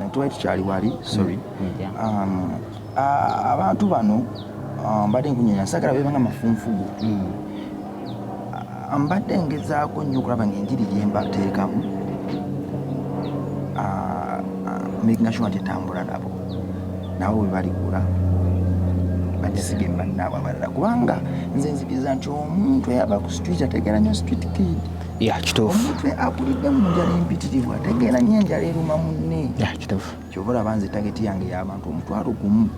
Eh, twali tukyali wali sorry mm, mm, um, abantu bano um, mbadde nkunyonya sagala bebanga mafunfugu mm. mbadde ngezaako nnyo okulaba ngaenjiri gyembateekamu makinga sure nti etambula nabo nabo webaligula bagisige mubannaawe abalala kubanga nze nzikiriza nti omuntu ayaba ku street ategeera nyo street kid ya kituufu omutwe akulidde mu njala empitirivu ategeera nnyo enjala eruma munne ya kituufu kyova olaba nze tageti yange y'abantu omutwalo gumu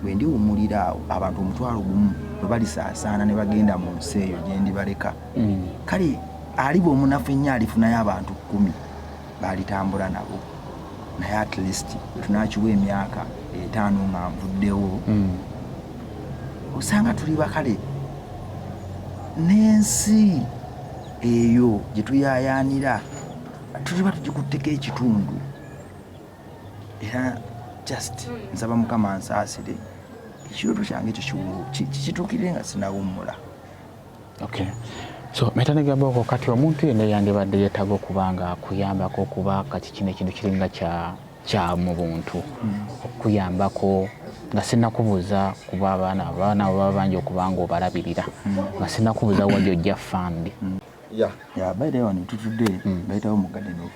bwe ndiwumulira awo abantu omutwalo gumu bwe balisaasaana ne bagenda mu nsi eyo gye ndibaleka mm. kale aliba omunafu ennyo alifunayo abantu kkumi baalitambula nabo naye at least tunakiwa emyaka etaano nga nvuddewo hmm. osanga tuli bakale n'ensi eyo gye tuyayaanira tuliba tugikutteko ekitundu era just nsaba mukama nsaasire ekirooto kyange ekyo kituukire nga sinawummula Okay. So meta negamba okwo kati omuntu yenna yandibadde yeetaaga okuba nga akuyambako okuba kati kino ekintu kiringa kya kya mu buntu hmm. okuyambako nga sinakubuuza kuba abaana abaana baba bangi okuba nga obalabirira hmm. nga sinakubuuza wali ojja fambi hmm. ya ya bayirewo ne tutudde bayitawo mu garden of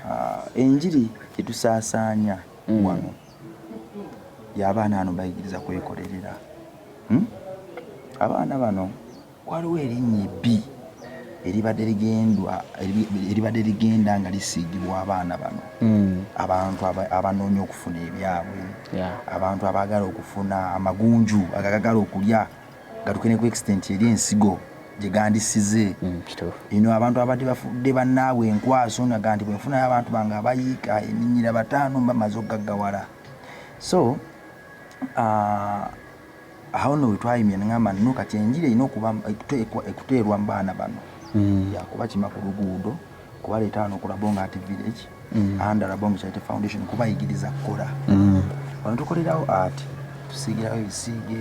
Uh, enjiri gyetusaasaanya mm. wano y'abaana ano bayigiriza kwekolerera hmm? abaana bano waliwo erinnya ebbi eribadde ligendwa eribadde ligenda nga lisiigibwa abaana bano hmm. abantu abanoonya okufuna ebyabwe abantu abaagala okufuna amagunju agagagala okulya gatuke ne ku extent eri ensigo gye gandisize mm, eno abantu abadde bafudde bannaabwe enkwaso naga nti bwenfunayo abantu bange abayiika eminyira bataano mbamaze okugaggawala so uh, awo no wetwayimye nengamba no kati enjiri erina okuba ekuteerwa mu baana bano mm. yakuba kima ku luguudo kubaleeta wano ku labonga ati village mm. and labonga charity foundation kubayigiriza kukola wano tukolerawo ati tusiigirawo ebisiige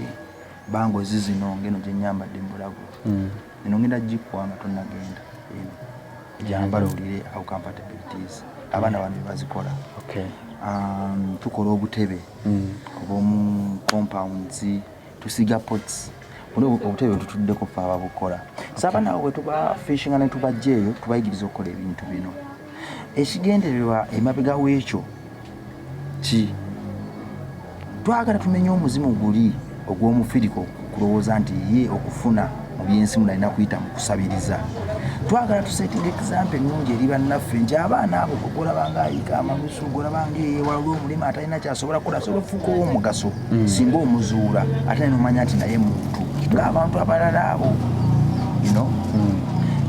Ba ngozi zino ngeno gyenyambadde mbulago mm. eno ngenda gikwa nga tonagenda gyambala owulire how compatible it is abaana bano bebazikola um, tukola obutebe mm. obwomu compounds tusiga pots buno obutebe bwetutuddeko fe ababukola saba nawe bwetuba fishinga netubajja eyo tubayigiriza okukola ebintu bino ekigendererwa emabega wekyo ki twagala tumenye omuzimu guli ogw'omufiriko kulowooza nti ye okufuna mu byensi munalina kuyita mu kusabiriza twagala tusetinga ekisampe ennungi eri bannaffe nti abaana abo ogolabanga ayiga amalusu ogolabanga eyewala olw'omulimu atalina kyasobola kukola asobola okufuuka ow'omugaso mm. singa omuzuula ate nomanya nti naye muntu ng'abantu abalala abo ino mm.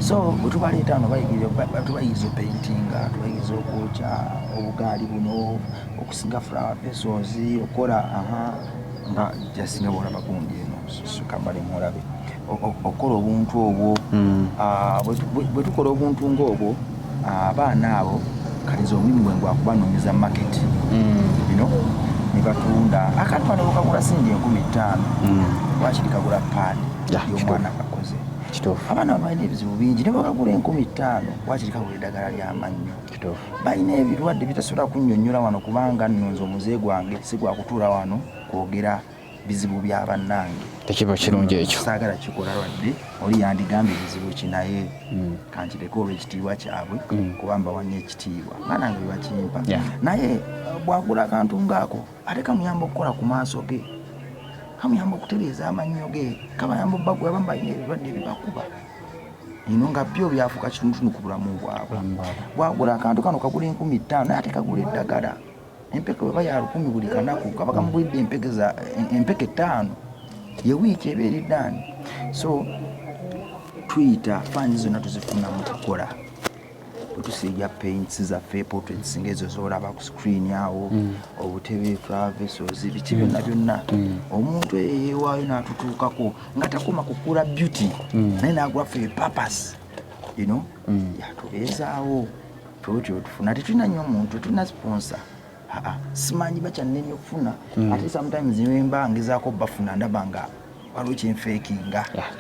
so bwetubaleeta no tubayigiriza opentinga tubayigiriza okwokya obugaali buno okusiga flower pesos okukola aha nga just nga bwolaba gundi eno kambale mulabe okukola obuntu obwo hmm. ah, bwe tukola obuntu ng'obwo ah, abaana abo kaliza omulimu gwe ngwakubanonyeza market bino hmm. nebatunda akantu ano bukagula singi enkumi ttaano hmm. wakiri kagula paani yomwana kakoze abaana balina ebizibu bingi nebakagula enkumi ttaano wakiri kagula eddagala lyamannyo balina ebirwadde bitasobola kunyonyola wano kubanga nonze omuze gwange sigwakutuula wano kwogera bizibu bya bannange tekiba kirungi ekyo saagala kikola lwadde oli yandigambye bizibu ki naye mm. kankireke olwekitiibwa kyabwe mm. kuba mbawanya ekitiibwa nga nange bebakimpa naye uh, bwagula akantu ngaako ate kamuyamba okukola ku maaso ge kamuyamba okutereeza amannyo ge kabayamba obbagwe abamu balina ebirwadde bibakuba ino nga byo byafuka kitunutunu ku bulamu bwabwe bwagula akantu kano kagula enkumi ttaano naye ate kagula eddagala empeke weba ya lukumi buli kanaku kaba kamugulidde empeke ttaano ye wiiki eba eriddani so tuyita faani zonna tuzifunamu tukola otusiiga paints zaffe portraits ngaezo zolaba ku screen awo mm. obutebe travesos biki byonna mm. byonna mm. omuntu eyo yewaayo natutuukako nga takoma kukula beauty naye nagulafe purpose you know yatubeezaawo twetyo tufuna tetulina nnyo omuntu tetulina sponsor aa simanyi bakyannemye okufuna mm. ate sometimes nemba ngezaako bafuna ndaba nga waliwo kyenfeekinga ah,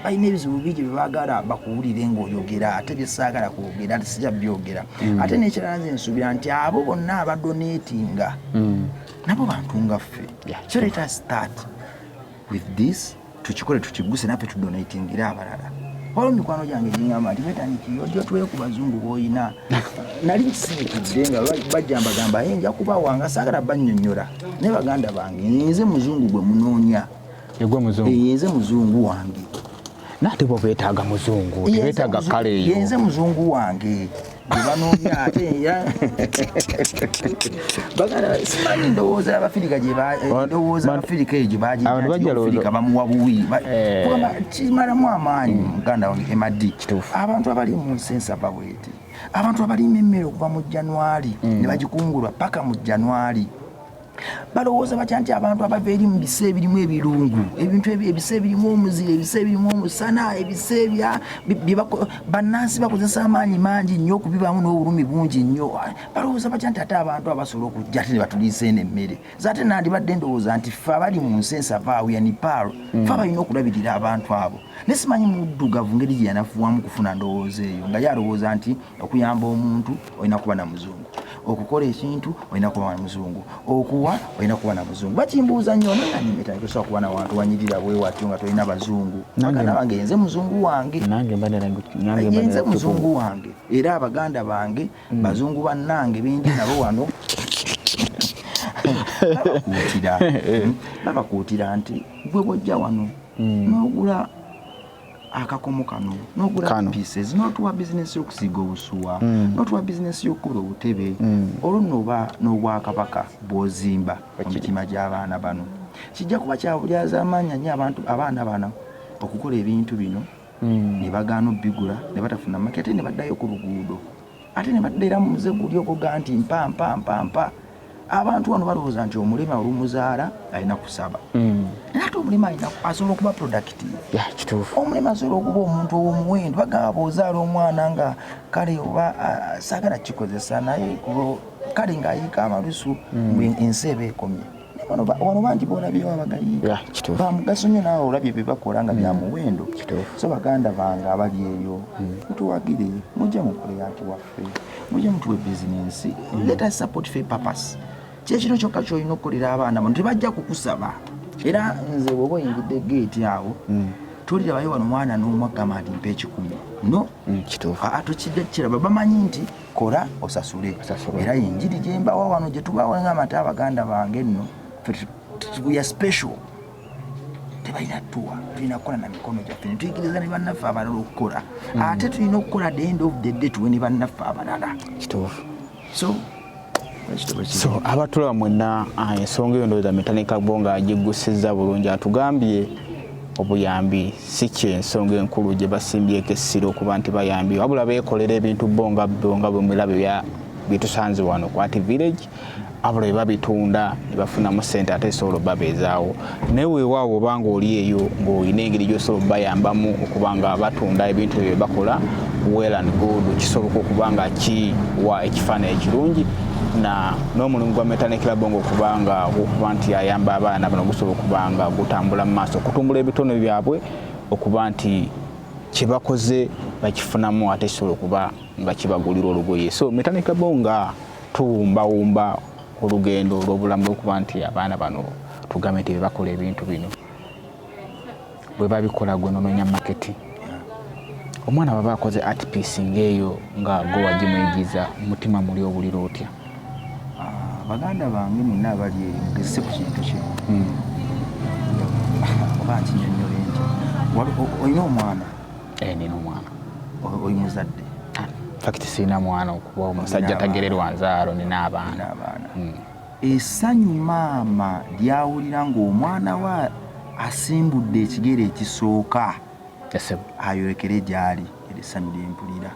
balina ebizibu bingi byebagala bakuwulire ngaoyogera ate byesaagala kwogera ate sija byogera mm. ate nekirala nze nsuubira nti abo bonna abadonetinga mm. nabo bantu nga ffe so let us start with this tukikole tukiguse nafe tudonatingire abalala waliwo mikwano gyange giŋamba nti betaniki ojja tuwe ku bazungu boyina nali nsiikidde nga bajambagamba ye nja kubawa nga saagala bannyonnyola naye baganda bange nze muzungu gwe munoonya yeze muzungu wange nate bo betaaga muzungu tebetaaga kale eyo yenze muzungu wange gyebanoonya ate era bagala simanyi ndowooza abafirika gyendowooza eh, abafirika eyo gyebagifirika bamuwa buwi eh. kimalamu amaanyi mm. muganda wange emadi abantu abali mu nsi ensava bweti abantu abalima emmere okuva mu januari mm. ne bagikungulwa paka mu januari balowooza batya nti abantu abava eri mu bisa ebirimu ebirungu ebintu ebyo ebisa ebirimu omuzira ebisa ebirimu omusana ebisa ebya bannansi bakozesa amaanyi mangi nnyo okubibaamu n'obulumi bungi nnyo balowooza batya nti ate abantu abasobola okujja ate ne batuliisa eno emmere zaate nandibadde ndowooza nti ffe abali mu nsi ensavaawu ya nipaalo mm. fe abalina okulabirira abantu abo naye simanyi muddugavu ngeri gye yanafuwamu kufuna ndowooza eyo nga ye alowooza nti okuyamba omuntu olina kuba na muzungu okukola ekintu olina kuba na muzungu okuwa olina kuba na muzungu bakimbuuza nnyo nanyimetaosobola kuba na wantu wanyirira bwewatyo nga tolina bazungu bange yenze muzungu wange yenze muzungu wange era abaganda bange mm. bazungu bannange bendi nabo wano babakuutira nti gwe bwojja wano mm. nogula akakomo kano nogula pieces notuwa bizinesi yokusiiga obusuwa mm. notuwa bizinesi yokukola obutebe mm. olwo noba n'obwakabaka bwozimba mu mitima gy'abaana bano kijja kuba kyabulyazamaanya nyo abantu abaana bano okukola ebintu bino mm. ne bagaana obigula ne batafuna makete ne baddayo ku luguudo ate ne badda era mu muze guli ogoga nti mpa mpa mpa mpa abantu wano balowooza nti omulema olumuzaala alina kusaba hmm. naye ate omulema alina asobola okuba productive omulema asobola okuba omuntu owomuwendo bagamba bwozaala omwana nga kale oba saagala kikozesa naye kale ng'ayiika amalusu hmm. ensi eba ekomye wano bangi bolabyewo abagayi bamugaso nyo naawe olabye byebakola nga byamuwendo mm. so baganda bange abali eyo mm. mutuwagire mujja mukole anti waffe mujja mutuwe bizinensi mm. let us support fe purpose kyekino kyokka kyolina okukolera abaana bano tebajja kukusaba era nze bwoba oyingidde geeti awo tolirabayo wano mwana n'omwagamba nti mpa ekikumi no kituufu atokidde kiraba bamanyi nti kora osasule era yenjiri gyembawa wano gyetubawa nga amata abaganda bange nno tuya special tebalina tuwa tulina kukola na mikono gyaffe netuyigiriza ne bannaffe abalala okukola mm. ate tulina okukola the end of the day tuwe ne bannaffe abalala kituufu so so abatulaba mwena ah, ensonga eyo ndowooza metanika bo nga agiggusiza bulungi atugambye obuyambi si kyensonga enkulu gye basimbyeko essira okuba nti bayambi wabula beekolera ebintu bo nga bo nga bwemulaba byetusanze wano kwati village abula bebabitunda nebafunamu sente ate esobola obabeezaawo naye weewaawo obanga oli eyo ng'olina engeri gyosobola obayambamu okuba nga batunda ebintu ebyo byebakola well and good kisoboka okuba nga kiwa ekifaananyi ekirungi na n'omulimu gwa Metane Club ngo kubanga okuba nti ayamba abaana bano gusobola okubanga gutambula mu maaso okutumbula ebitone byabwe okuba nti kye bakoze bakifunamu ate kisobola okuba nga kibagulira olugoye so Metane Club nga tuwumbawumba olugendo olw'obulamu lwokuba nti abaana bano tugambe nti bebakola ebintu bino bwebabikola gwe nononya maketi omwana baba akoze art piece ngaeyo nga gwewagimuyigiza mutima muli obulira otya ah, baganda bange mwena abali eyo mugezese ku kintu kino hmm. oba nkinyonyole nti olina omwana eh, nina omwana oli muzadde ah, fakiti sirina mwana okuba omusajja tagererwa nzaalo nina abaana hmm. Essanyu maama ly'awulira ng'omwana we asimbudde ekigere ekisooka ayolekere gy'ali, eryo essanyu lye mpulira.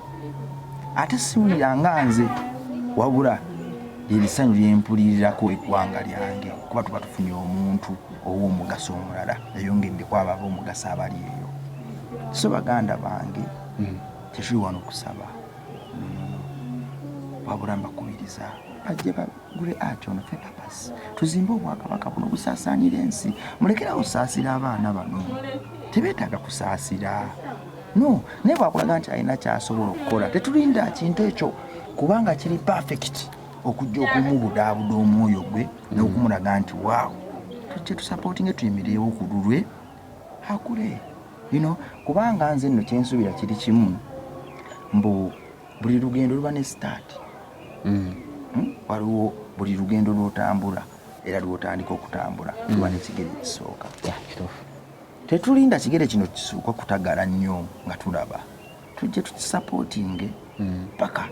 Ate siwulira nga nze wabula lye lisanyu lye mpulirirako eggwanga lyange kuba tuba tufunye omuntu ow'omugaso omulala yayongeddeko abo ab'omugaso abali eyo. So baganda bange hmm. tekiri wano kusaba. wabula mbakubiriza bajje bagule ati ono fepapas tuzimbe obwakabaka buno busaasaanira ensi mulekerawo osaasira abaana bano tebeetaaga kusaasira no naye bwakulaga nti alina kyasobola okukola tetulinda kintu ekyo kubanga kiri perfect okujja okumubudaabuda omwoyo gwe n'okumulaga nti waawo tujja tusapootinge tuyimireewo ku lulwe akule you know kubanga nze nno kyensubira kiri kimu mbu buli lugendo luba ne start mm. hmm? waliwo buli lugendo lwotambula era lwotandika okutambula mm. luba nekigere ekisooka tetulinda kigere kino kisuuka kutagala nnyo nga tulaba tujje tukisapotinge paka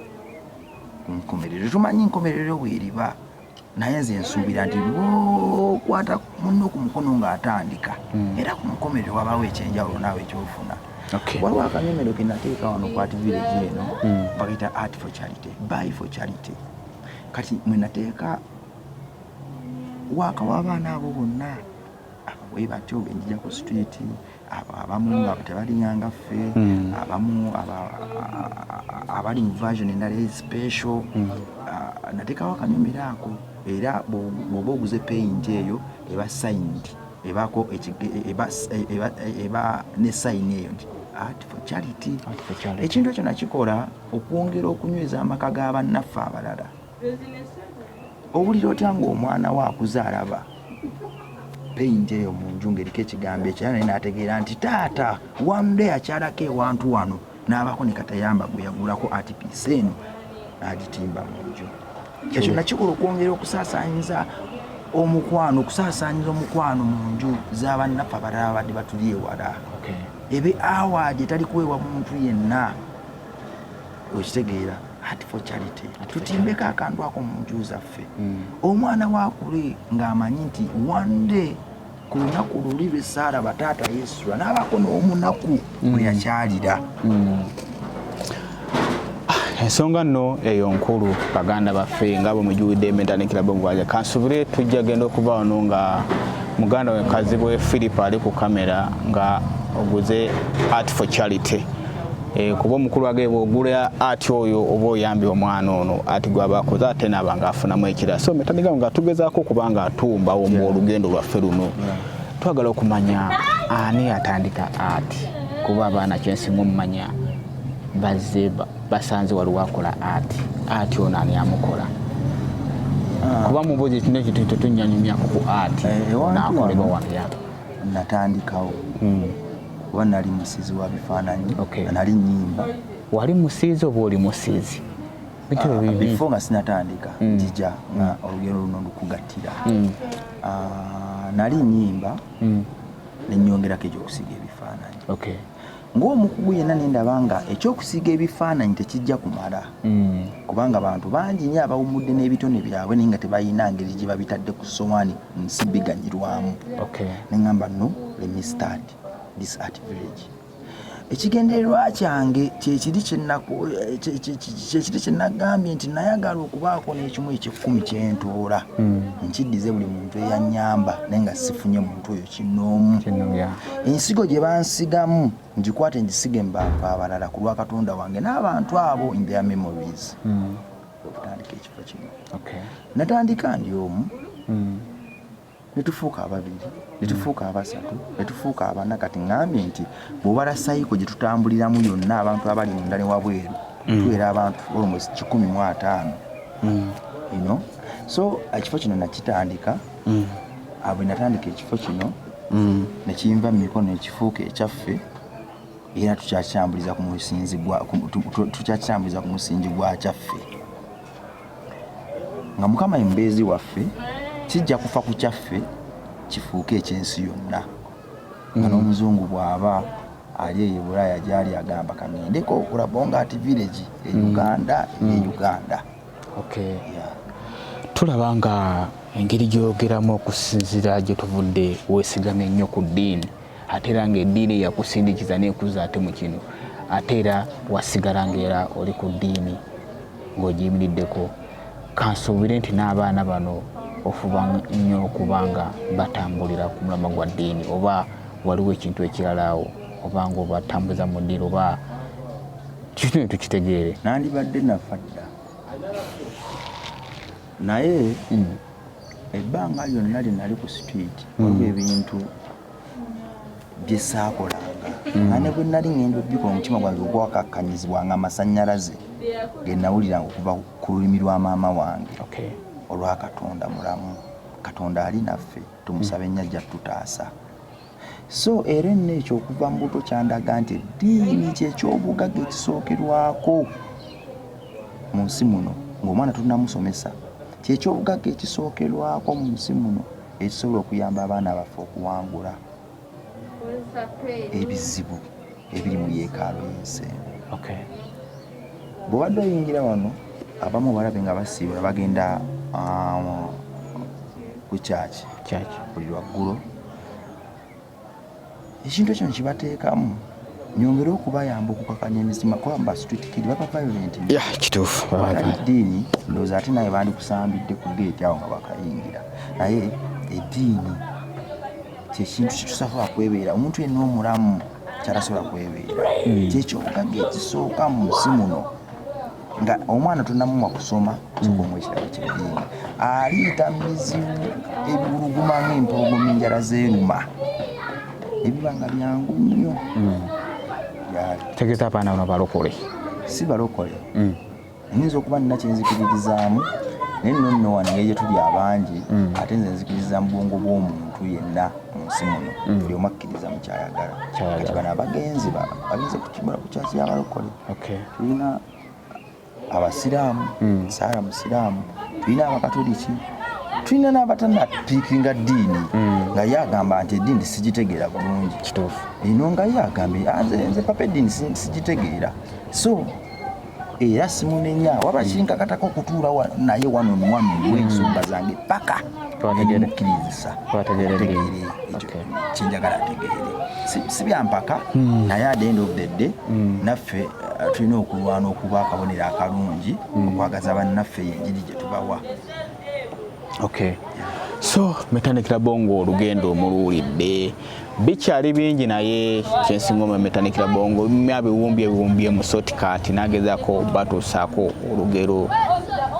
ku nkomerero tumanyi nkomerero weeriba naye nze nsuubira nti lwokwata munno ku mukono ng'atandika hmm. era ku nkomerero wabaawo ekyenjawulo naawe ekyofuna waliwo akanyomero ke nateeka wano ku ati village eno hmm. bakayita art for charity buy for charity kati mwe nateeka waaka w'abaana abo bonna abawe batyo enjija ku street abamu nga tebalinya nga ffe hmm. abamu abali mu version endala especial hmm. natekawo akanyumira ako era bwoba oguze paint eyo eba signed ebako e, eba ne sign eyo nti art for charity ekintu ekyo nakikola okwongera okunyweza amaka ga bannaffe abalala owulira otya ng'omwana wo akuze alaba peyinti eyo mu nju ng'eriko ekigambo ekyo era naye n'ategeera nti taata one day akyalako ewantu wano n'abaako ne katayamba gwe yagulako ati piisa eno n'agitimba mu nju ekyo nakikola okwongera okusaasaanyiza omukwano okusaasaanyiza omukwano mu nju z'abannaffe abalala abadde batuli ewala ebe awaadi etali kuweebwa muntu yenna okitegeera Heart for Charity tutimbeko akantu ako mu nju zaffe mm. omwana wakule ng'amanyi nti one day ku lunaku luli lwe saara bataata yesu anaabako n'omunaku mm. mwe yakyalira mm. ah, ensonga nno eyo nkulu baganda baffe nga bwe mujuwidde ementandikira bwegwaja kansubire tujja genda okuba wano nga muganda we kazibwe philip ali ku kamera nga oguze art for charity Eh, kuba omukulu wage bwogula ati oyo oba oyambye omwana ono ati gwabakoze ate naaba nga afunamu ekira so metaniga nga tugezaako okuba nga atumbawo mu olugendo lwaffe luno twagala okumanya ani atandika ati kuba abaana kyensinga omumanya bazze basanze waliwo akola ati ati ono ani amukola ah. kuba mubuzi ekino ekintu tetunyanyumyako ku ati eh, nakolebwa wabya natandikawo hmm. kuba nali musiizi wa bifaananyi okay. nali nyimba wali musiizi oba oli musiizi bitebe ah, bibi before nga sinatandika mm. njija mm. nga olugero luno lukugattira mm. ah, nali nyimba mm. nenyongerako ekyokusiiga ebifaananyi okay. ng'omukugu yenna nendaba nga ekyokusiiga ebifaananyi tekijja kumala mm. kubanga abantu bangi nyo abawummudde n'ebitone byabwe naye nga tebalina ngeri gye babitadde ku sowaani nsimbi ganyirwamu okay. nengamba no let me start this art village ekigendererwa kyange kyekiri kyekiri kyenagambye nti nayagala okubaako n'ekimu ekyekumi kyentuula hmm. nkiddize buli muntu eyanyamba naye nga sifunye muntu oyo kinoomu ensigo gye bansigamu ngikwate ngisige mu bantu abalala ku lwa katonda wange n'abantu abo in their memories hmm. okutandika ekifo kino natandika ndi omu hmm. netufuuka ababiri netufuuka abasatu netufuuka abana kati ngambye nti bwobala sayiko gyetutambuliramu yonna abantu abali munda ne wabweru hmm. tuwera abantu almost kikumi mu ataano hmm. ino so ekifo kino nakitandika abwe natandika ekifo kino nekiyinva mu mikono ekifuuka ekyaffe era tukyakyambuliza ku musingi gwa kyaffe nga mukama ye mubeezi waffe kijja kufa ku kyaffe kifuuke ekyensi yonna nga mm. n'omuzungu bw'aba ali eyo bulaaya gyali agamba kaŋendeko okulabonga ati village e mm. uganda e mm. uganda tulaba nga engeri gy'oyogeramu okusinzira gye tuvudde weesigame nnyo ku ddiini ate era ng'eddiini eyakusindikiza n'ekuzza ate mu kino ate era wasigala ng'era oli ku ddiini ng'ogiyimiriddeko kansuubire nti n'abaana bano ofuba nnyo okuba nga batambulira ku mulama gwa ddiini oba waliwo ekintu ekirala awo oba ng'obatambuza mu ddiini oba kikino tukitegeere nandibadde nafa dda naye hmm. ebbanga lyonna lye nali ku street hmm. waliwo ebintu bye saakolanga hmm. nga ne bwe nali ngenda okubikola omutima gwange ogwakakkanyizibwa nga amasannyalaze ge nawuliranga okuva ku lulimi lwa maama wange olwa katonda mulamu katonda ali naffe tumusabe nnyo ajja tututaasa so era enna ekyo okuva mu buto kyandaga nti eddiini kyekyobugaga ekisookerwako mu nsi muno ngaomwana tunamusomesa kyekyobugaga ekisookerwako mu nsi muno ekisobola okuyamba abaana baffe okuwangula ebizibu ebiri mu yeekaalo yensi bwobadde oyingira wano abamu balabe nga basiibula bagenda um, ku kyaki buli lwaggulo ekintu ekyo nkibateekamu nyongere okubayamba okukakanya emizima kuba ba street kid baba violent ya kituufu eddiini ndowooza ate naye bandikusambidde ku geeti awo nga bakayingira naye eddiini kyekintu kitusasobola kwebeera omuntu yenna omulamu kyatasobola kwebeera hmm. kyekyobugagga ekisooka mu nsi muno nga omwana tunamumwa kusoma kikomu ekirabo kyeddiini aliita mizibu ebiwuluguma ngaempologoma enjala zeruma ebiba nga byangu nnyo hmm. tegeza abaana bano balokole si balokole hmm. nyinza okuba nina kyenzikiririzaamu naye nno nno wano ngeri gyetuli abangi hmm. ate nze nzikiriza mu bwongo bw'omuntu yenna mu nsi muno buli omu akkiriza mukyayagala kati bano abagenzi bagenze kukyasi yabalokole tulina abasiraamu hmm. saara musiraamu tulina abakatoliki tulina n'abatanapiikinga ddiini hmm. nga ye agamba nti eddiini sigitegeera bulungi kituufu eno nga ye agambye ah, nze papa eddiini sigitegeera so era simunenya waba kinkakatako okutuula naye wano muwami wensonga zange paka mukkiriza ategeere kyenjagala ategeere si byampaka hmm. naye adenda obdedde hmm. naffe uh, tulina okulwana okuba akabonero akalungi hmm. okwagaza bannaffe yenjiri gye tubawa so metandikira bongo olugendo omuluwulidde bikyali bingi naye kyensinga omemetanikira bongo myabiwumbye biwumbye musoti kati nagezako batuusaako olugero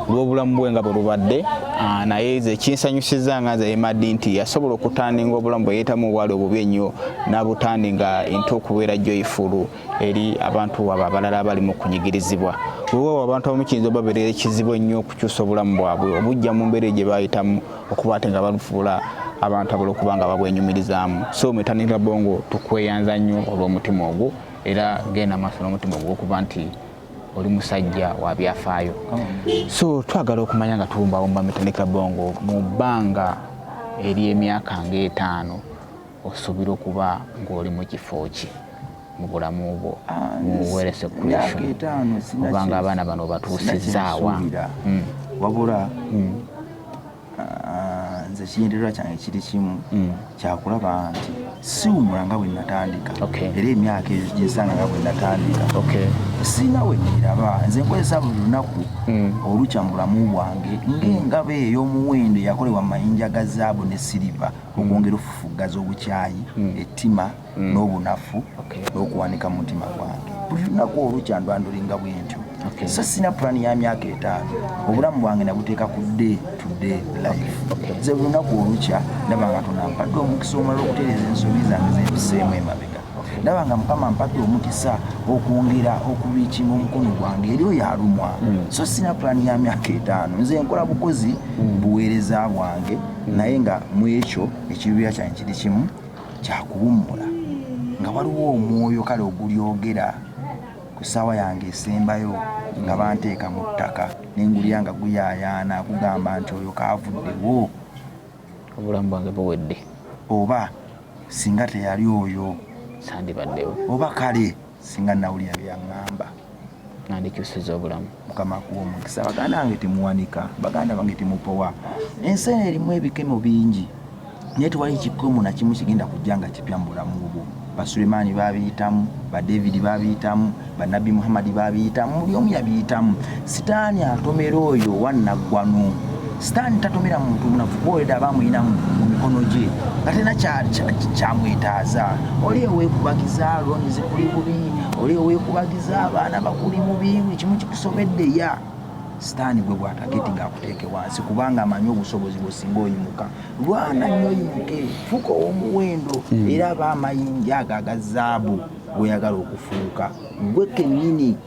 lwobulamu bwe nga bwe lubadde ah, naye ze kinsanyusiza nga nze emadi nti yasobola okutandinga obulamu bwe yeetamu obwali obubi ennyo n'abutandinga ente okubeera joyifulu eri abantu abo abalala abali mu kunyigirizibwa wewawo abantu abamu kiyinza obabeerera ekizibu ennyo okukyusa obulamu bwabwe obujja mu mbeera gye bayitamu okuba ate nga balufuula abantu abala okuba nga babwenyumirizaamu so metanira bongo tukweyanza nnyo olw'omutima ogwo era genda maaso n'omutima ogwo okuba nti oli musajja wa byafaayo so twagala okumanya nga tuwumbawumba metanira bongo mu bbanga ery'emyaka ng'etaano Osuubira okuba ng'oli mu kifo ki mu bulamu bwo ah, mu weerese kulisho obanga abaana bano obatuusizzaawa hmm. wabula hmm. ah, nze kigendererwa kyange kiri kimu hmm. kyakulaba nti siwumula nga bwe natandika era emyaka eyo gyesanga nga bwe natandika sirina we niraba nze nkozesa buli lunaku olukya mu bulamu bwange ng'engabo ey'omuwendo yakolebwa mu mayinja ga zaabu ne siriva okwongera okufufuggaza obukyayi mm. ettima mm. n'obunafu n'okuwanika mu mutima gwange buli lunaku olukya ndwandulinga bwentyo so sina pulaani ya myaka etaano obulamu bwange nabuteeka ku day to day life ze buli lunaku olukya ndaba nga tonampadde omukisa omulala okutereeza ensobi zange zempiseemu emabega ndaba nga mukama mpadde omukisa okwongera okubiikima omukono gwange eri oyo alumwa hmm. so sina pulaani ya myaka etaano nze nkola bukozi hmm. buweereza bwange hmm. naye nga mu ekyo ekiruubira kyange kiri kimu kyakuwummula nga waliwo omwoyo kale ogulyogera ku ssaawa yange esembayo nga banteeka mu ttaka nengulya nga guyayaana kugamba nti oyo kaavuddewo obulamu bwange buwedde oba singa teyali oyo sandibaddewo oba kale singa nawulira byaŋŋamba nandikyusiza obulamu mukama kuwa omukisa baganda bange temuwanika baganda bange temupowa ensi eno erimu ebikemo bingi naye tewali kikomo nakimu kigenda kujja nga kipya mu bulamu bwo Basulemaani baabiyitamu, Badevidi baabiyitamu, Bannabbi Muhammadi baabiyitamu, buli omu yabiyitamu. Sitaani atomera oyo owa nnaggwano. Sitaani tatomera muntu munafu kuba oleda aba amulinamu mu mikono gye nga tena kyamwetaaza. Oli owekubagiza looni zikuli bubi, oli owekubagiza abaana bakuli bubi, buli kimu kikusobedde ya sitaani gwe bwatageti ng'akuteeke wansi kubanga amanyi obusobozi bwe singa oyimuka. lwana nnyo yimuke fuuka ow'omuwendo hmm. era aba amayinja ago aga zaabu gweyagala okufuuka gwe kennyini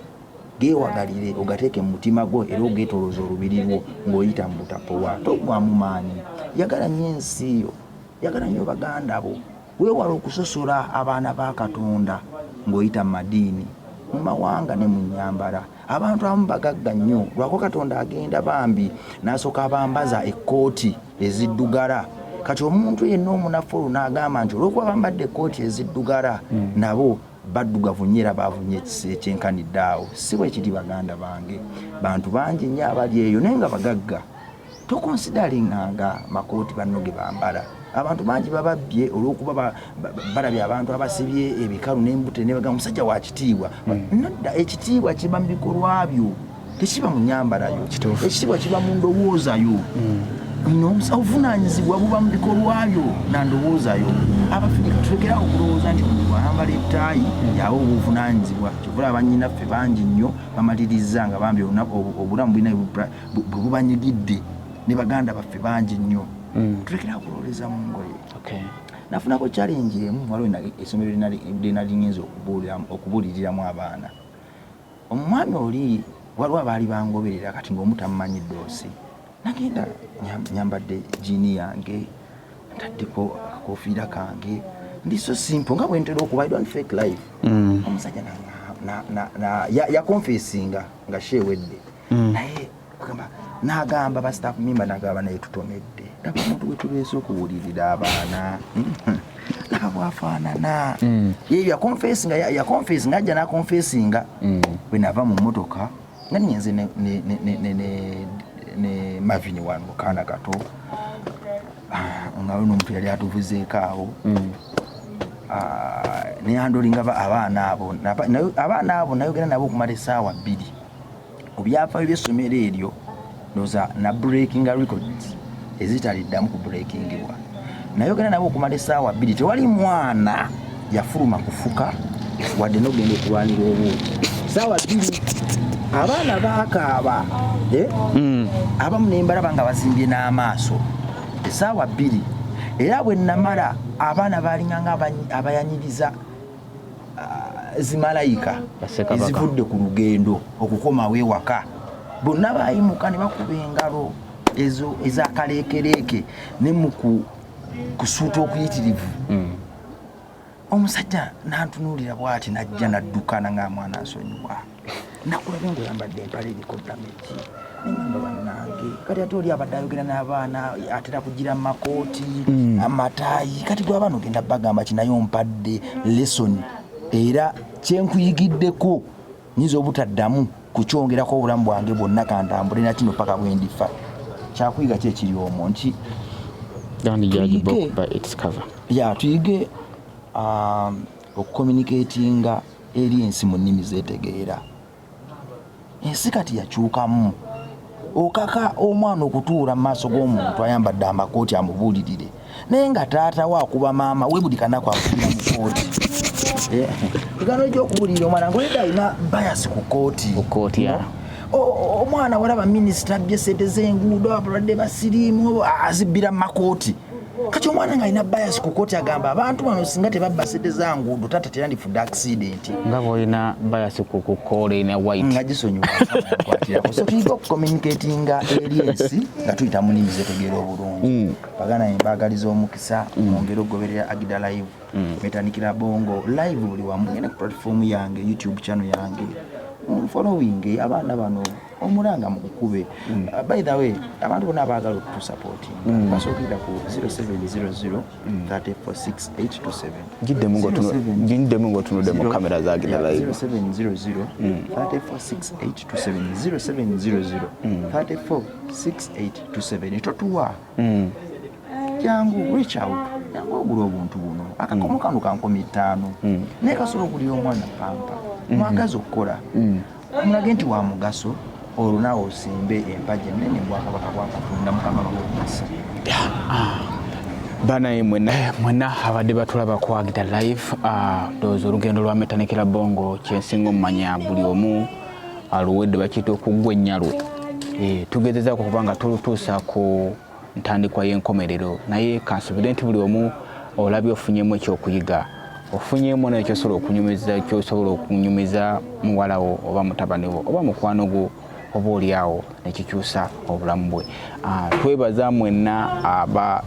geewagalire ogateeke mu mutima gwo era ogeetolooza olubiri lwo ng'oyita mu butapowa togwamu maanyi yagala nnyo ensi yo yagala nnyo baganda bo Weewale okusosola abaana ba Katonda ng'oyita mu madiini, mu mawanga ne mu nnyambala. Abantu abamu bagagga nnyo lwako Katonda agenda bambi n'asooka abambaza ekkooti eziddugala. Kati omuntu yenna omunafu olwo n'agamba nti olw'okuba bambadde ekkooti eziddugala hmm. nabo baddugavu nnyo era baavu nnyo ekyenkanidde awo. Si bwe kiri baganda bange. Bantu bangi nnyo abali eyo naye nga bagagga. tokonsidaringanga makooti banno ge bambala abantu bangi bababbye olwokuba balabye abantu abasibye ebikalu nembute nebaga omusajja wakitiibwa hmm. nodda ekitiibwa kiba mu bikolwa byo tekiba mu nyambalayo ekitiibwa kiba mu ndowoozayo hmm. obuvunanyizibwa buba mu bikolwa byo na ndowooza yo abafirika tulekera okulowooza nti omuntu ayambala etaayi yawe obuvunanyizibwa kyovula banyinaffe bangi nnyo bamaliriza nga bambi obulamu bulina bwe bubanyigidde ne baganda baffe bangi nnyo mm. tulekera kulowoleza mu ngoye nafunako challenge emu waliwo esomero lyenalingenza okubuuliriramu abaana omwami oli waliwo abaali bangoberera kati ngaomu tammanyi ddoosi nagenda nyambadde jiini yange ntaddeko akakofiira kange ndi so simple nga bwentera okuba i don't fake life mm. omusajja yakonfesinga nga sheewedde mm. naye agamba nagamba ba staff member nagamba naye tutomedde laba omuntu wetubeeza okuwulirira abaana laba bwafaanana mm. ye yakonfesinga yakonfesinga ajja nakonfesinga mm. bwenava mu motoka nga niyenze ne mavini wanu mukaana kato ah, nga luno omuntu yali atuvuzeeko awo mm. ah, neyandolinga abaana abo abaana abo nayogera nabo okumala esaawa bbiri ku byafaayo by'essomero eryo ndoza na breakinga records ezitaliddamu ku breakingibwa nayogera nabo okumala esaawa bbiri tewali mwana yafuluma kufuka wadde nogenda okulwanira obuuki saawa bbiri abaana bakaaba eh? hmm. abamu nembalaba nga bazimbye n'amaaso esaawa bbiri era bwe namala abaana baalinganga abayanyiriza ah, zimalayika ezivudde ku lugendo okukomawo ewaka bonna bayimuka ne bakuba engalo ezo ezakaleekereeke ne mu kusuuta okuyitirivu hmm. omusajja nantunuulira bwati najja naddukana nga mwana nsonyiwa nakulabye ngaoyambadde empala eriko damagi nengamba bannange kati ate oli abadde ayogera n'abaana atera kugira mu makooti hmm. amataayi kati gwe abaana ogenda bagamba kinaye ompadde lesoni era kyenkuyigiddeko nyinza obutaddamu kukyongerako obulamu bwange bwonna kantambule nakino paka bwendifa kyakuyiga ki ekiri omwo nti ya tuyige um, okucommunicatinga eri ensi mu nnimi zetegeera. Ensi kati yakyukamu. Okaka omwana okutuula mu maaso g'omuntu ayambadde amakooti amubuulirire naye nga taata we akuba maama we buli kanaku akubira mu kooti egano eh, gyokubuulirira omwana ngaoleda alina bayasi ku kooti ku kooti ya omwana walaba minisita abbye sente zenguudo abalwadde basiriimu azibbira mumakooti kati omwana nga alina bias ku koti agamba abantu bano singa tebabba sente za nguudo tata terandifudde accident nga bwolina bias ku kukola ina white nga gisonyiwasotuyiga okucommunicatinga eri ensi nga tuyita mu nimi zetegeera obulungi mm. bagana embagaliza omukisa mm. mwongere okugoberera agida live mm. metandikira bongo live buli wamu ngenda ku platform yange youtube channel yange following abaana bano omulanga mukukube mm. uh, by the way abantu bona abaagala okutusapoti mm. basookera ku 0700346827giddemu ngaotunudde mu kamera zagenda live 0700346827 totuwa mm. jangu reach out jangu ogula obuntu buno akakomo kano kankomi ttaano naye kasobola okulira omwana pampa mwagazi okukola mulage nti wa mugaso olwo naawe osimbe empagi ennene bwakabaka bwa katonda mukama bamukisa banaye mwena mwena abadde batulaba kwagita live ah, ndowooza olugendo lwa metanikira bongo kyensinga omumanya buli omu aluwedde bakiyita okuggwa ennyalwe eh, tugezezako kubanga tulutuusa ku ntandikwa y'enkomerero naye kansubire nti buli omu olabye ofunyemu ekyokuyiga ofunyemu nayo kyosobola okunyumiza kyosobola okunyumiza muwalawo oba mutabani wo oba mukwano gwo oba olyawo nekikyusa obulamu bwe ah, twebaza mwenna aba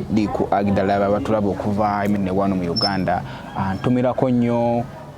diku agidala babatulaba okuva eminewano mu uganda ah, ntumirako nnyo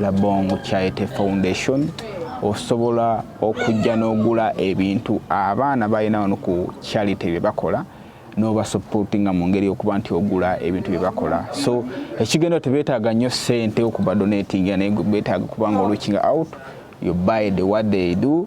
Labong Charity Foundation osobola okujja n'ogula ebintu abaana balina wano ku charity bye bakola n'obasupportinga mu ngeri okuba nti ogula ebintu bye bakola so ekigendo tebeetaaga nnyo ssente okuba donatinga naye beetaaga kubanga olukinga out you buy the what they do